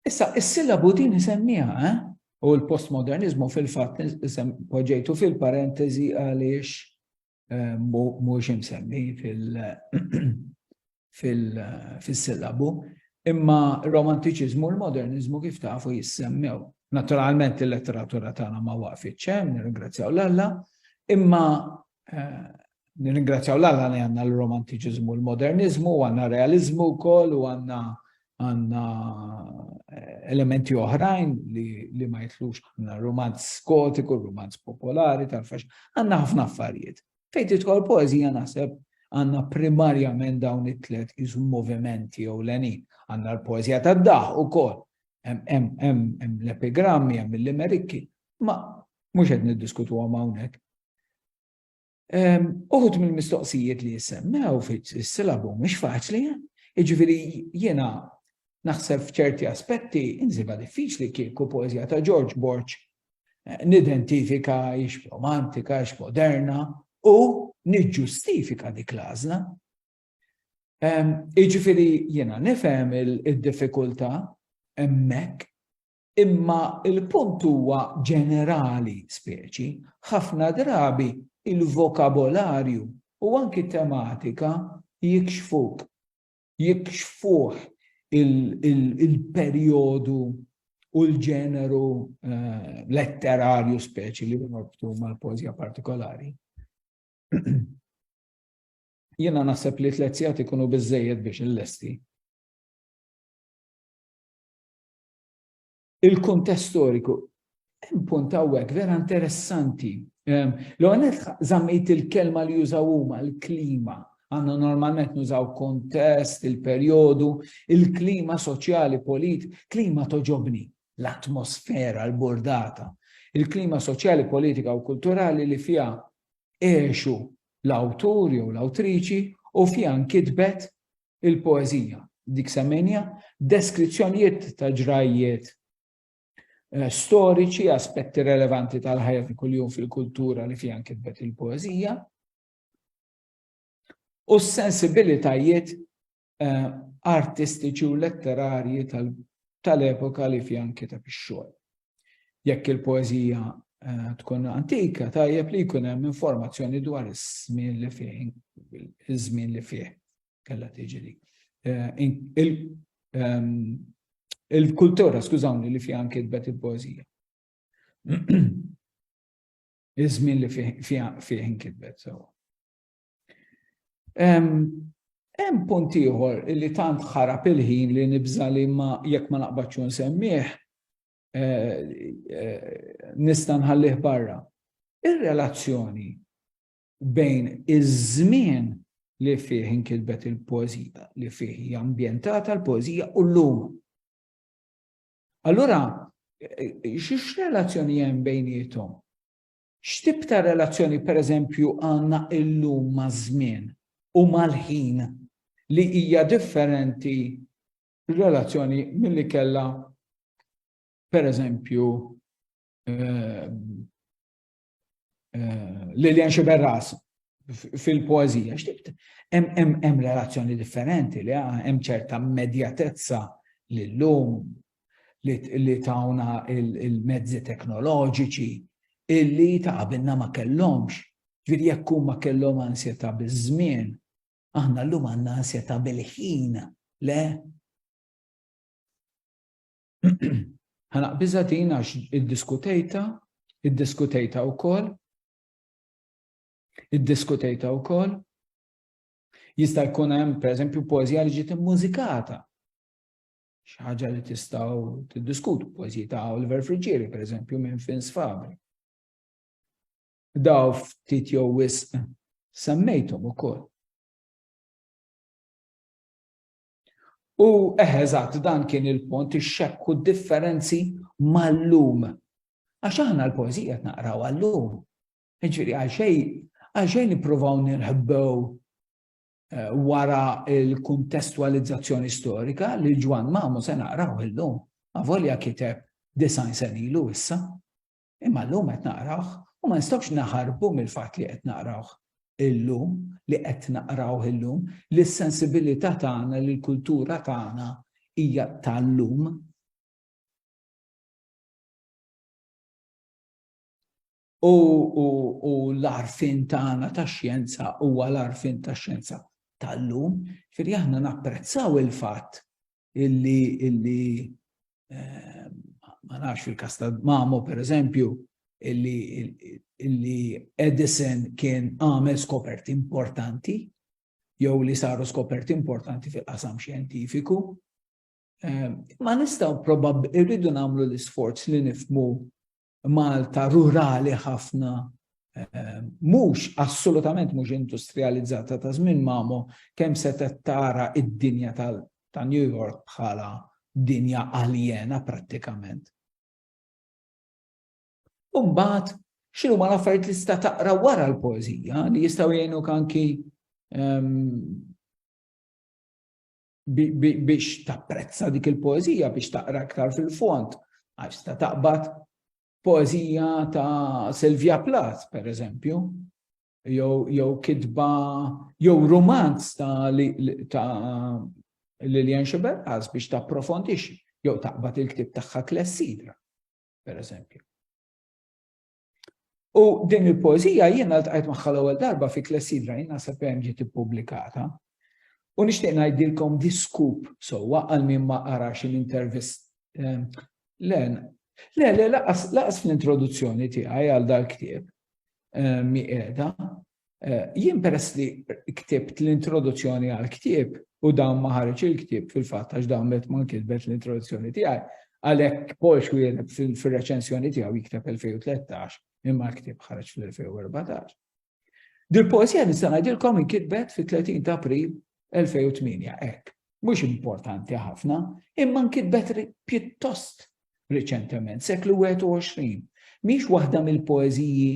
Issa, is-sillabu din isemmiha, eh? u l-postmodernizmu fil-fatt poġġejtu fil-parentesi għaliex eh, mhux imsemmi fil-sillabu, imma romantiċiżmu u l-modernizmu kif tafu jissemmew. Naturalment il-letteratura tagħna ma waqfitx hemm, nirringrazzjaw l-Alla, imma Nirringrazzjaw l-Alla li għandna l-romantiċiżmu u l-moderniżmu, u għandna realiżmu wkoll u għandna għandna elementi oħrajn li, li ma jitlux għandna romanz skotiku, romanz popolari tal-fax, għandna ħafna affarijiet. Fejn tidħol poezija naħseb għandna primarjament dawn it-tlet iżu movimenti jew lenin. Għandna l-poezija tad-daħ ukoll. Hemm l-epigrammi, hemm l-limerikki, ma mhux qed niddiskutu hawnhekk. Uħud mill-mistoqsijiet li jissemmew fis-silabu mhux faċli, jiġifieri jiena naħseb f'ċerti aspetti insiba diffiċli kieku poeżija ta' George Borg eh, nidentifika ix romantika, ix moderna u niġġustifika dik l-għażla. Jiġifieri jiena nifhem id-diffikultà hemmhekk Imma l-punt huwa ġenerali, speċi, ħafna drabi il-vokabolarju u anki t-tematika jikxfuk, jikxfuh il-perjodu u l-ġeneru letterarju speċi li norbtu mal-poeżija partikolari. Jiena naħseb li tliet sigħat ikunu biżżejjed biex illesti. il-kuntest storiku. Hemm punt hawnhekk vera interessanti. Ehm, L-għonet zammejt il-kelma li jużaw huma l-klima. Għanna normalment nużaw kontest, il-perjodu, il-klima soċjali, polit, klima toġobni, l-atmosfera, l-bordata, il-klima soċjali, politika u kulturali li fija eħxu l-awtur jew l-awtriċi u fija nkitbet il-poeżija, dik semmejnija, deskrizzjonijiet ta' ġrajjiet eh, storiċi, aspetti relevanti tal-ħajja ta' kuljum fil-kultura li fiha kitbet il-poeżija, u s-sensibilitajiet eh, artistiċi u letterarji tal-epoka li fiha kiteb ix-xogħol. Jekk il-poeżija eh, tkun antika, tajjeb li jkun hemm informazzjoni dwar iż-żmien li fih, iż-żmien li fih kellha tiġi li. Eh, ehm, il-kultura, skużawni, li fiha kitbet il-poeżija. Iż-żmien li fih kitbet, so. Hemm punt ieħor li tant ħarab il-ħin li nibża li ma jekk ma naqbadx nsemmih eh, eh, nista' nħallih barra. Ir-relazzjoni bejn iż-żmien li fih inkitbet il-poezija, li fih hija ambjentata l-poezija u l-lum. Allura, eh, xiex relazzjoni hemm bejnietom? X'tip ta' relazzjoni, pereżempju, għandna illum maż-żmien u mal-ħin li hija differenti r-relazzjoni milli kellha, pereżempju, Lilian Sciberras fil-poeżija? Hemm relazzjoni differenti li hemm ċerta immedjatezza li llum li tawna il-mezzi teknoloġiċi illi ta' qabilna ma kellhomx. Ġifieri jekk huma kellhom ansjetà biż-żmien, aħna llum għandna ansjetà bil-ħin, le? Ħa naqbiżha din għax iddiskutejta, iddiskutejta wkoll, iddiskutejta wkoll, jista' jkun hemm pereżempju poeżija li ġiet immużikata. Xi ħaġa li tistgħu tiddiskutu poeżiji ta' Oliver Friggieri, pereżempju minn Fins Fabri. Daw ftit jew wisq semmejthom ukoll. U eħeżat dan kien il-pont ix-xekku differenzi mal-lum. Għax aħna l-poezija naqraw għal-lum. Ġifieri għal xejn għal xejn nippruvaw nirħbew eh, wara l-kuntestwalizzazzjoni storika li Ġwan Mamu se naqraw illum, avolja kiteb design sen ilu issa. Imma llum qed naqrawh u ma nistgħux naħarbu mill-fatt li qed naqrawh illum, li qed naqrawh illum, li s-sensibilità tagħna, li l-kultura tagħna hija tal-lum U, u, u l-arfin tagħna ta' xjenza huwa l-arfin ta' xjenza tal-lum, firri aħna napprezzaw il-fatt illi, illi eh, ma nafx fil-kas ta' Mamo per eżempju, illi, illi Edison kien għamel skoperti importanti, jew li saru skoperti importanti fil-qasam xjentifiku. Eh, ma nistaw probabb irridu namlu l-isforz li nifmu Malta rurali ħafna, mhux assolutament mhux industrijalizzata ta' żmien Mamo, kemm setgħet tara d-dinja ta' New York bħala dinja aljena prattikament. U mbagħad x'inhuma l-affarijiet li tista' taqra wara l-poeżija li jistgħu jgħinuk anki biex tapprezza dik il-poezija, biex taqra iktar fil-fond, għax ta' taqbad poezija ta' Silvia Plath, per eżempju, jew kitba, jew romanz ta' Lilian Xiberqas biex ta' profondix, jew taqbad il-ktib tagħha Klessidra, per eżempju. U din il-poezija jiena ltqajt magħha l-ewwel darba fi Klessidra jiena sa hemm ġiet ippubblikata. U nixtieq ngħidilkom diskup sewwa għal min ma qarax l-intervist. Ehm, le, le, le, laqas fl-introduzzjoni tiegħi għal dal-ktieb ehm, mi qiegħda, Jien peress li ktibt l-introduzzjoni għall-ktieb u dawn ma ħareġ il-ktieb fil-fatt għax dawn qed ma nkitbet l-introduzzjoni tiegħi, għalhekk Paul Schwiener fir-reċensjoni tiegħu jikteb 2013 imma l-ktieb ħareġ fl-2014. Dil-poeżija nista' ngħidilkom inkitbet fit-30 ta' April 2008, hekk. Mhux importanti ħafna, imma nkitbet pjuttost riċentement, seklu 21. Mhix waħda mill-poeżiji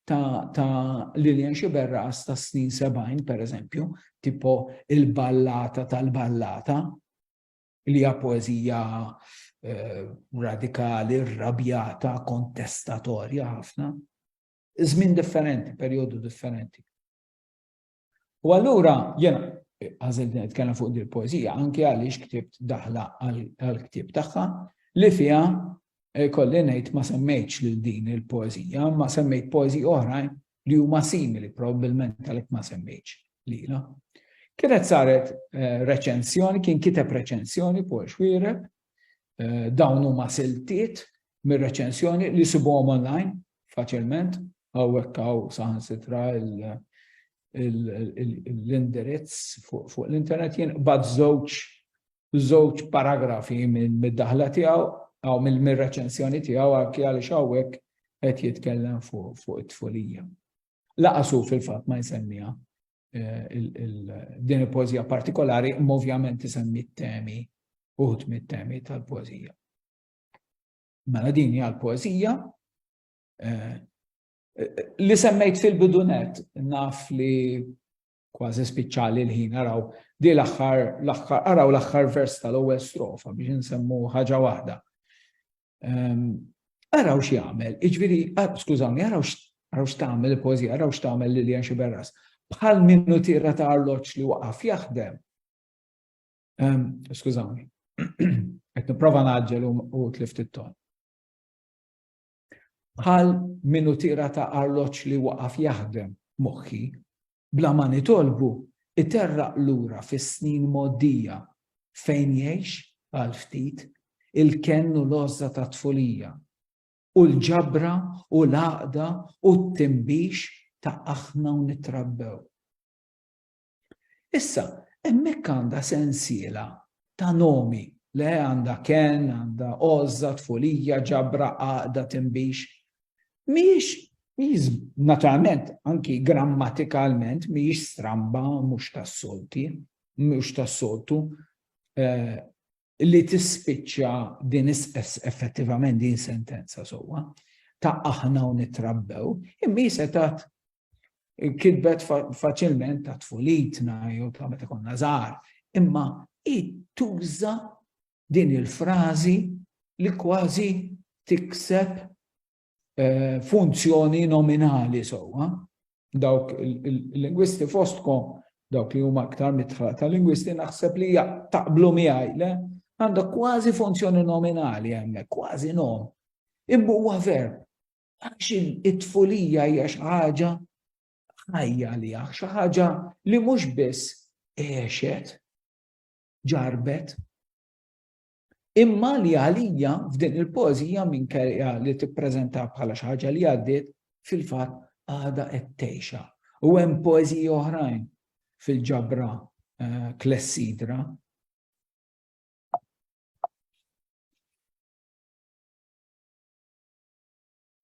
ta', ta Lilian Xiberras ta' snin 70, per eżempju, tipo il-ballata tal-ballata, li hija poeżija eh, radikali, rabjata, kontestatorja ħafna. Żmien differenti, perjodu differenti. U allura jena għażilt nitkellem fuq din il-poeżija anke għaliex ktibt daħla għall-ktieb tagħha li fiha eh, kolli ngħid ma semmejtx lil din il-poeżija, ma semmejt poeżi oħrajn li huma simili probabbilment għalhekk ma semmejtx lila. Kienet saret eh, reċensjoni, kien kiteb reċensjoni fuq xwiereb Eh, dawn huma siltiet mir-reċensjoni li sibuhom online faċilment hawnhekk hawn saħansitra l-indirizz fuq l-internet jien bad żewġ żewġ paragrafi mid-daħla tiegħu għaw mill-reċensjoni tiegħu għalki għaliex hawnhekk qed jitkellem fuq it-tfulija. Laqasu fil-fatt ma jsemmiha din il-poezija partikolari, ovvjament isemmi t-temi, uħut mit-temi tal-poezija. Mela din hija l-poezija eh, li semmejt fil-bidunet naf li kważi spiċċali l-ħin araw di l-aħħar l-aħħar araw l-aħħar vers tal-ewwel strofa biex insemmu ħaġa waħda. Araw x'jagħmel, iġviri, skużawni, araw x'tagħmel il-pożija, araw x'tagħmel Lilian Xiberras. Bħal minnu tira ta' arloġġ li waqaf jaħdem. Skużawni, qed nipprova naġġel u tlift it-ton. Bħal minnu tira ta' arloġġ li waqaf jaħdem moħħi Bla ma nitolbu, iterraq lura fis-snin mgħoddija fejn jgħix, għal ftit, il-kenn u l-għożża tat-tfulija, u l-ġabra u l-għaqda u t-tinbix ta' aħna u nittrabbew. Issa, hemmhekk għandha sensiela ta' nomi, le għandha kenn, għandha għożża, tfulija, ġabra, għaqda, tinbix, mhijiex mhijiex naturalment anki grammatikalment mhijiex stramba mhux tas-solti, mhux tas-soltu eh, li tispiċċa din effettivament din sentenza sewwa ta' aħna u nitrabbew, imma jisetat kitbet faċilment ta' tfulitna jew ta' meta konna żgħar, imma tuża din il-frażi li kważi tikseb eh, funzjoni nominali sewwa. Dawk il-lingwisti fostkom, dawk li huma aktar mitħla ta' lingwisti naħseb li taqblu miegħi le għandha kważi funzjoni nominali hemmhekk, kważi nom. Imma huwa verb. Għax it-tfulija hija xi ħaġa ħajja li xi ħaġa li mhux biss għexet, ġarrbet. Imma li għalija f'din il-poeżija minkejja li tippreżenta bħala xi ħaġa li għaddiet fil-fatt għada qed tgħixha. U hemm poeżiji oħrajn fil-ġabra eh, klessidra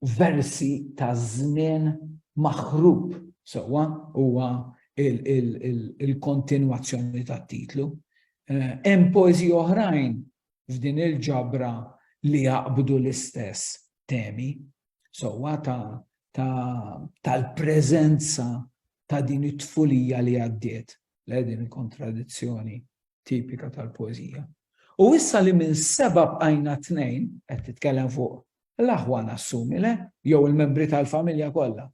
versi ta' żmien maħrub sewwa huwa il-kontinwazzjoni tat-titlu. Hemm poeżiji oħrajn f'din il-ġabra li jaqbdu l-istess temi sewwa tal-preżenza ta' din it-tfulija li għaddiet, le din il-kontradizzjoni tipika tal-poeżija. U issa li minn seba' bqajna tnejn, qed titkellem fuq L-aħwa nassumi le, jew il-membri tal-familja kollha.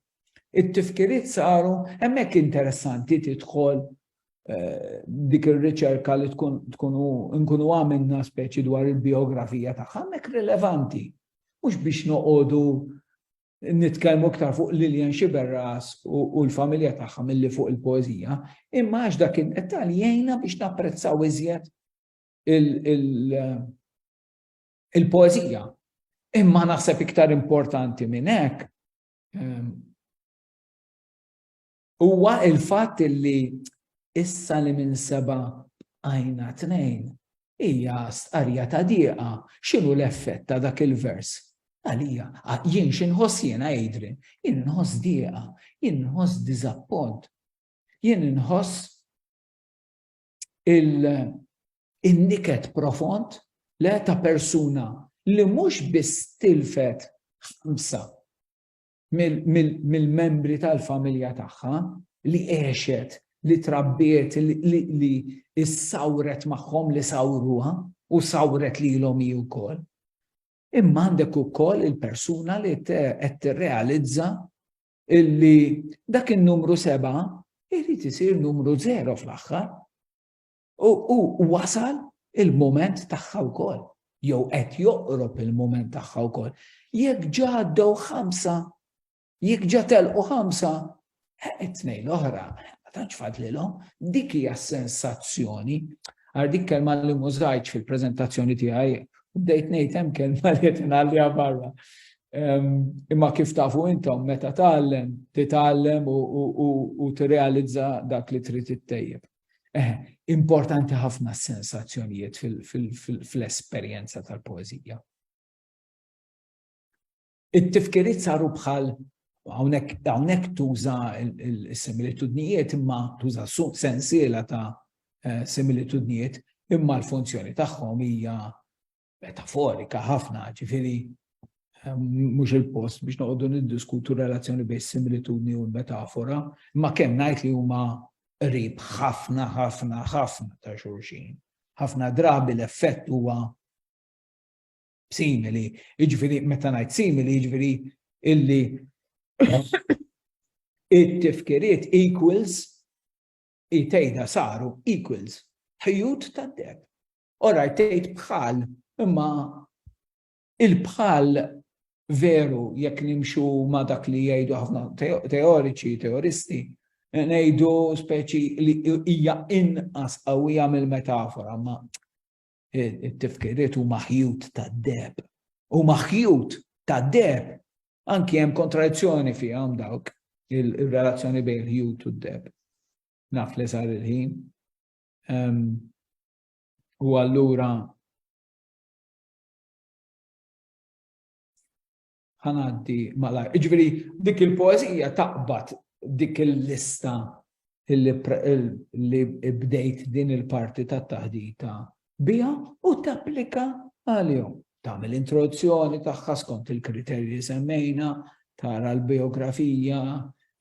It-tifkiriet saru, hemmhekk interessanti tidħol dik ir-riċerka li tkun tkunu nkunu għamilna speċi dwar il-biografija tagħha, hemmhekk rilevanti. Mhux biex noqogħdu nitkellmu iktar fuq Lilian Xiberras u l-familja tagħha milli fuq il-poezija, imma għax dak id-dettal jgħinna biex napprezzaw iżjed il-poeżija. Imma naħseb iktar importanti minn hekk ehm, huwa il-fatt li issa li minn seba' għajna tnejn hija stqarja ta' dieqa x'inhu l-effett ta' dak il-vers. Għalija, jien x'inħoss jiena Adrian, jien inħoss dieqa, jien inħoss diżappont, jien inħoss il-niket profond le ta' persuna li mhux biss tilfet ħamsa mill-membri tal-familja tagħha li għexet, li trabbiet, li issawret magħhom li sawruha u sawret lilhom hi wkoll. Imma għandek ukoll il-persuna li qed tirrealizza illi dak in-numru seba' irid isir numru zero fl-aħħar. U wasal il-moment tagħha wkoll, jew qed joqrob il-moment tagħha wkoll. Jekk ġa għaddew ħamsa, jekk ġa telqu ħamsa, it-tnejn l-oħra, ma tantx fadlilhom, dik hija sensazzjoni. Għar dik kelma li mużajċ fil-preżentazzjoni tiegħi, u bdejt ngħid hemm kelma li qed ingħalliha barra. Imma kif tafu intom meta tgħallem, titgħallem u tirrealizza dak li trid ittejjeb. Eħe, importanti ħafna s-sensazzjonijiet fl-esperjenza tal-poeżija. It-tifkiriet saru bħal hawnhekk tuża s-similitudnijiet imma tuża sensiela ta' similitudnijiet imma l-funzjoni tagħhom hija metaforika ħafna, ġifiri ehm, mhux il-post biex noqogħdu niddiskutu relazzjoni bejn similitudni u l-metafora, ma kemm ngħid li huma qrib ħafna ħafna ħafna ta' xulxin. Ħafna drabi l-effett huwa simili, jiġifieri meta ngħid simili jiġifieri illi it-tifkiriet equals it-tejda saru equals ħjut tad-deb. All right, tgħid bħal, imma il-bħal veru jekk nimxu ma dak li jgħidu ħafna teoriċi, teoristi, ngħidu speċi li hija inqas qawwija mill-metafora, ma it-tifkiriet huma ħjut tad-deb. Huma ħjut tad-deb. Anki hemm kontradizzjoni fihom dawk il-relazzjoni bejn il-ħjut u d-deb. Naf li sar il-ħin. U allura ħanaddi malaj. Iġveri, dik il-poezija taqbad dik il-lista li bdejt din il-parti ta' taħdita bija u tapplika għalihom. Tagħmel introduzzjoni tagħha skont il-kriterji li semmejna, tara l-bijografija,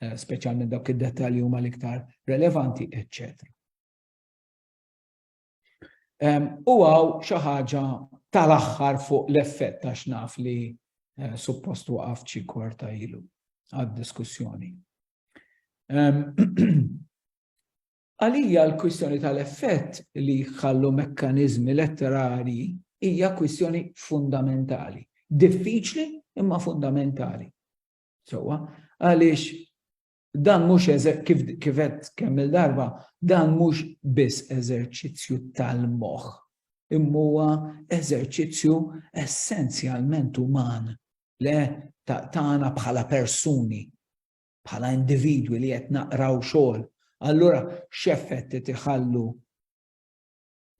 eh, speċjalment dawk id-dettalji huma l-iktar relevanti, eċċetera. U għaw xaħġa tal-axħar fuq l-effett ta' xnaf li eh, suppost waqaf ċi kwarta ilu għad-diskussjoni. Għalija l-kwistjoni tal-effett li jħallu mekkaniżmi letterarji hija kwistjoni fundamentali. Diffiċli imma fundamentali. Sewwa, għaliex dan mhux kif kifet kemm il-darba, dan mhux biss eżerċizzju tal-moħħ, imma huwa eżerċizzju essenzjalment uman le tagħna bħala persuni. bħala individwi li qed naqraw xogħol, allura x'effett qed iħallu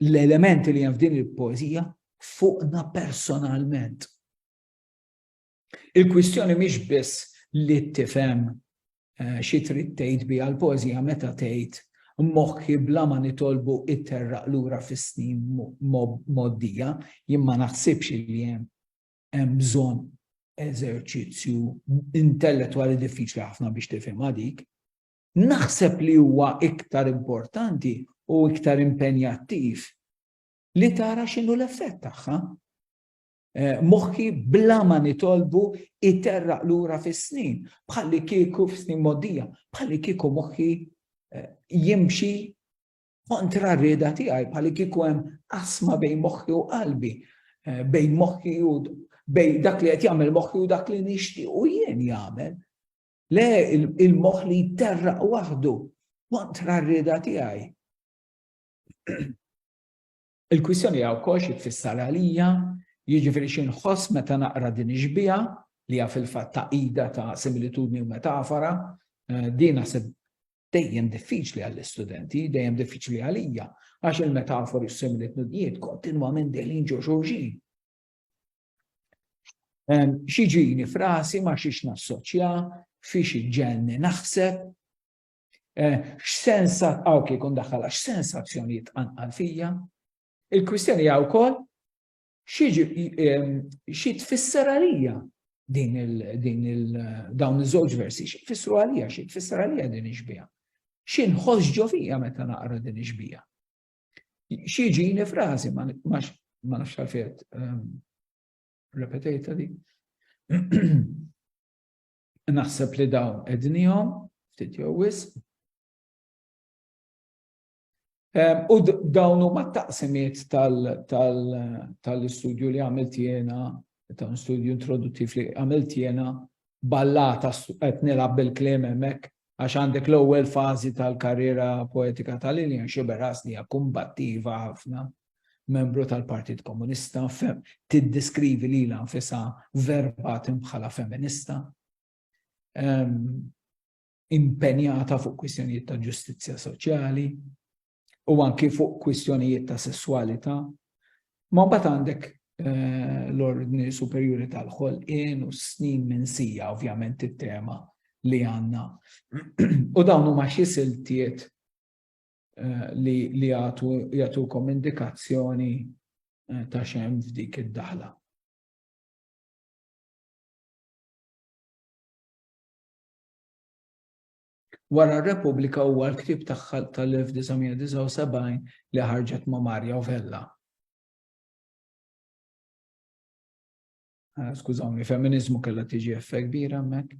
l-elementi li hemm f'din il-poeżija fuqna personalment. Il-kwistjoni mhix biss li tifhem eh, xi trid tgħid biha l-poeżija meta tgħid moħħi bla ma nitolbu itterraq lura fis-snin moddija, jien ma naħsibx li hemm hemm bżonn eżerċizzju intellettwali diffiċli ħafna biex tifhimha dik. Naħseb li huwa iktar importanti u iktar impenjattiv li tara x'inhu l-effett tagħha. Eh, moħħi bla ma nitolbu iterraq lura fis-snin, bħalli kieku f'snin modija, bħalli kieku moħħi eh, jimxi kontra r-rieda tiegħi bħal kieku hemm asma bejn moħħi u qalbi, eh, bejn moħħi u bejn dak li qed jagħmel moħħi u dak li nixtieq u jien jagħmel. Le il-moħħ li jterraq waħdu kontra r-rieda tiegħi. Il-kwistjoni hija wkoll xi tfisser għalija, jiġifieri xi nħoss meta naqra din ix-xbieha, li hija fil-fatt tagħqida ta' similitudni u metafora. Din naħseb dejjem diffiċli għall-istudenti, dejjem diffiċli għalija, għax il-metafori u s-similitudnijiet kontinwament dejjin ġo xulxin. Xi ġini frasi ma xiex nassoċja, fiex iġġenni naħseb, Eh, x'sens għaw kif kun daħħalha, x'sensazzjonijiet tqanqal fija? Il-kwistjoni għaw kol, xi tfisser għalija din il-dawn iż-żewġ versi, xi tfissru għalija, xi tfisser għalija din iġbija. Xi nħossġo fija meta naqra din iġbija. Xi ġini frażi ma nafx għalfejn ehm, repetejta di. Naħseb li dawn ednihom, ftit jew wisq. U dawn huma t-taqsimiet tal-istudju li għamilt jiena, ta' un studju introduttiv li għamilt jiena, ballata qed nilgħab bil-kliem hemmhekk għax għandek l-ewwel fażi tal-karriera poetika ta' Lillian Sciberras li hija kumbattiva ħafna membru tal-Partit Komunista, tiddeskrivi lilha nfisha verbatim bħala feminista, impenjata fuq kwistjonijiet ta' ġustizzja soċjali u anki fuq kwistjonijiet ta' sessualità. Ma mbagħad għandek eh, l-ordni superjuri tal-ħolqien u snin minn sija ovvjament it-tema li għanna. U dawn huma xi siltiet eh, li li jagħtukom indikazzjoni eh, ta' xem f'dik id-daħla. Wara r-Repubblika huwa l-ktieb tagħha tal-1979 li ħarġet ma' Marja Vella. Ah, skużawni, feminizmu kellha tiġi effekt kbira hemmhekk.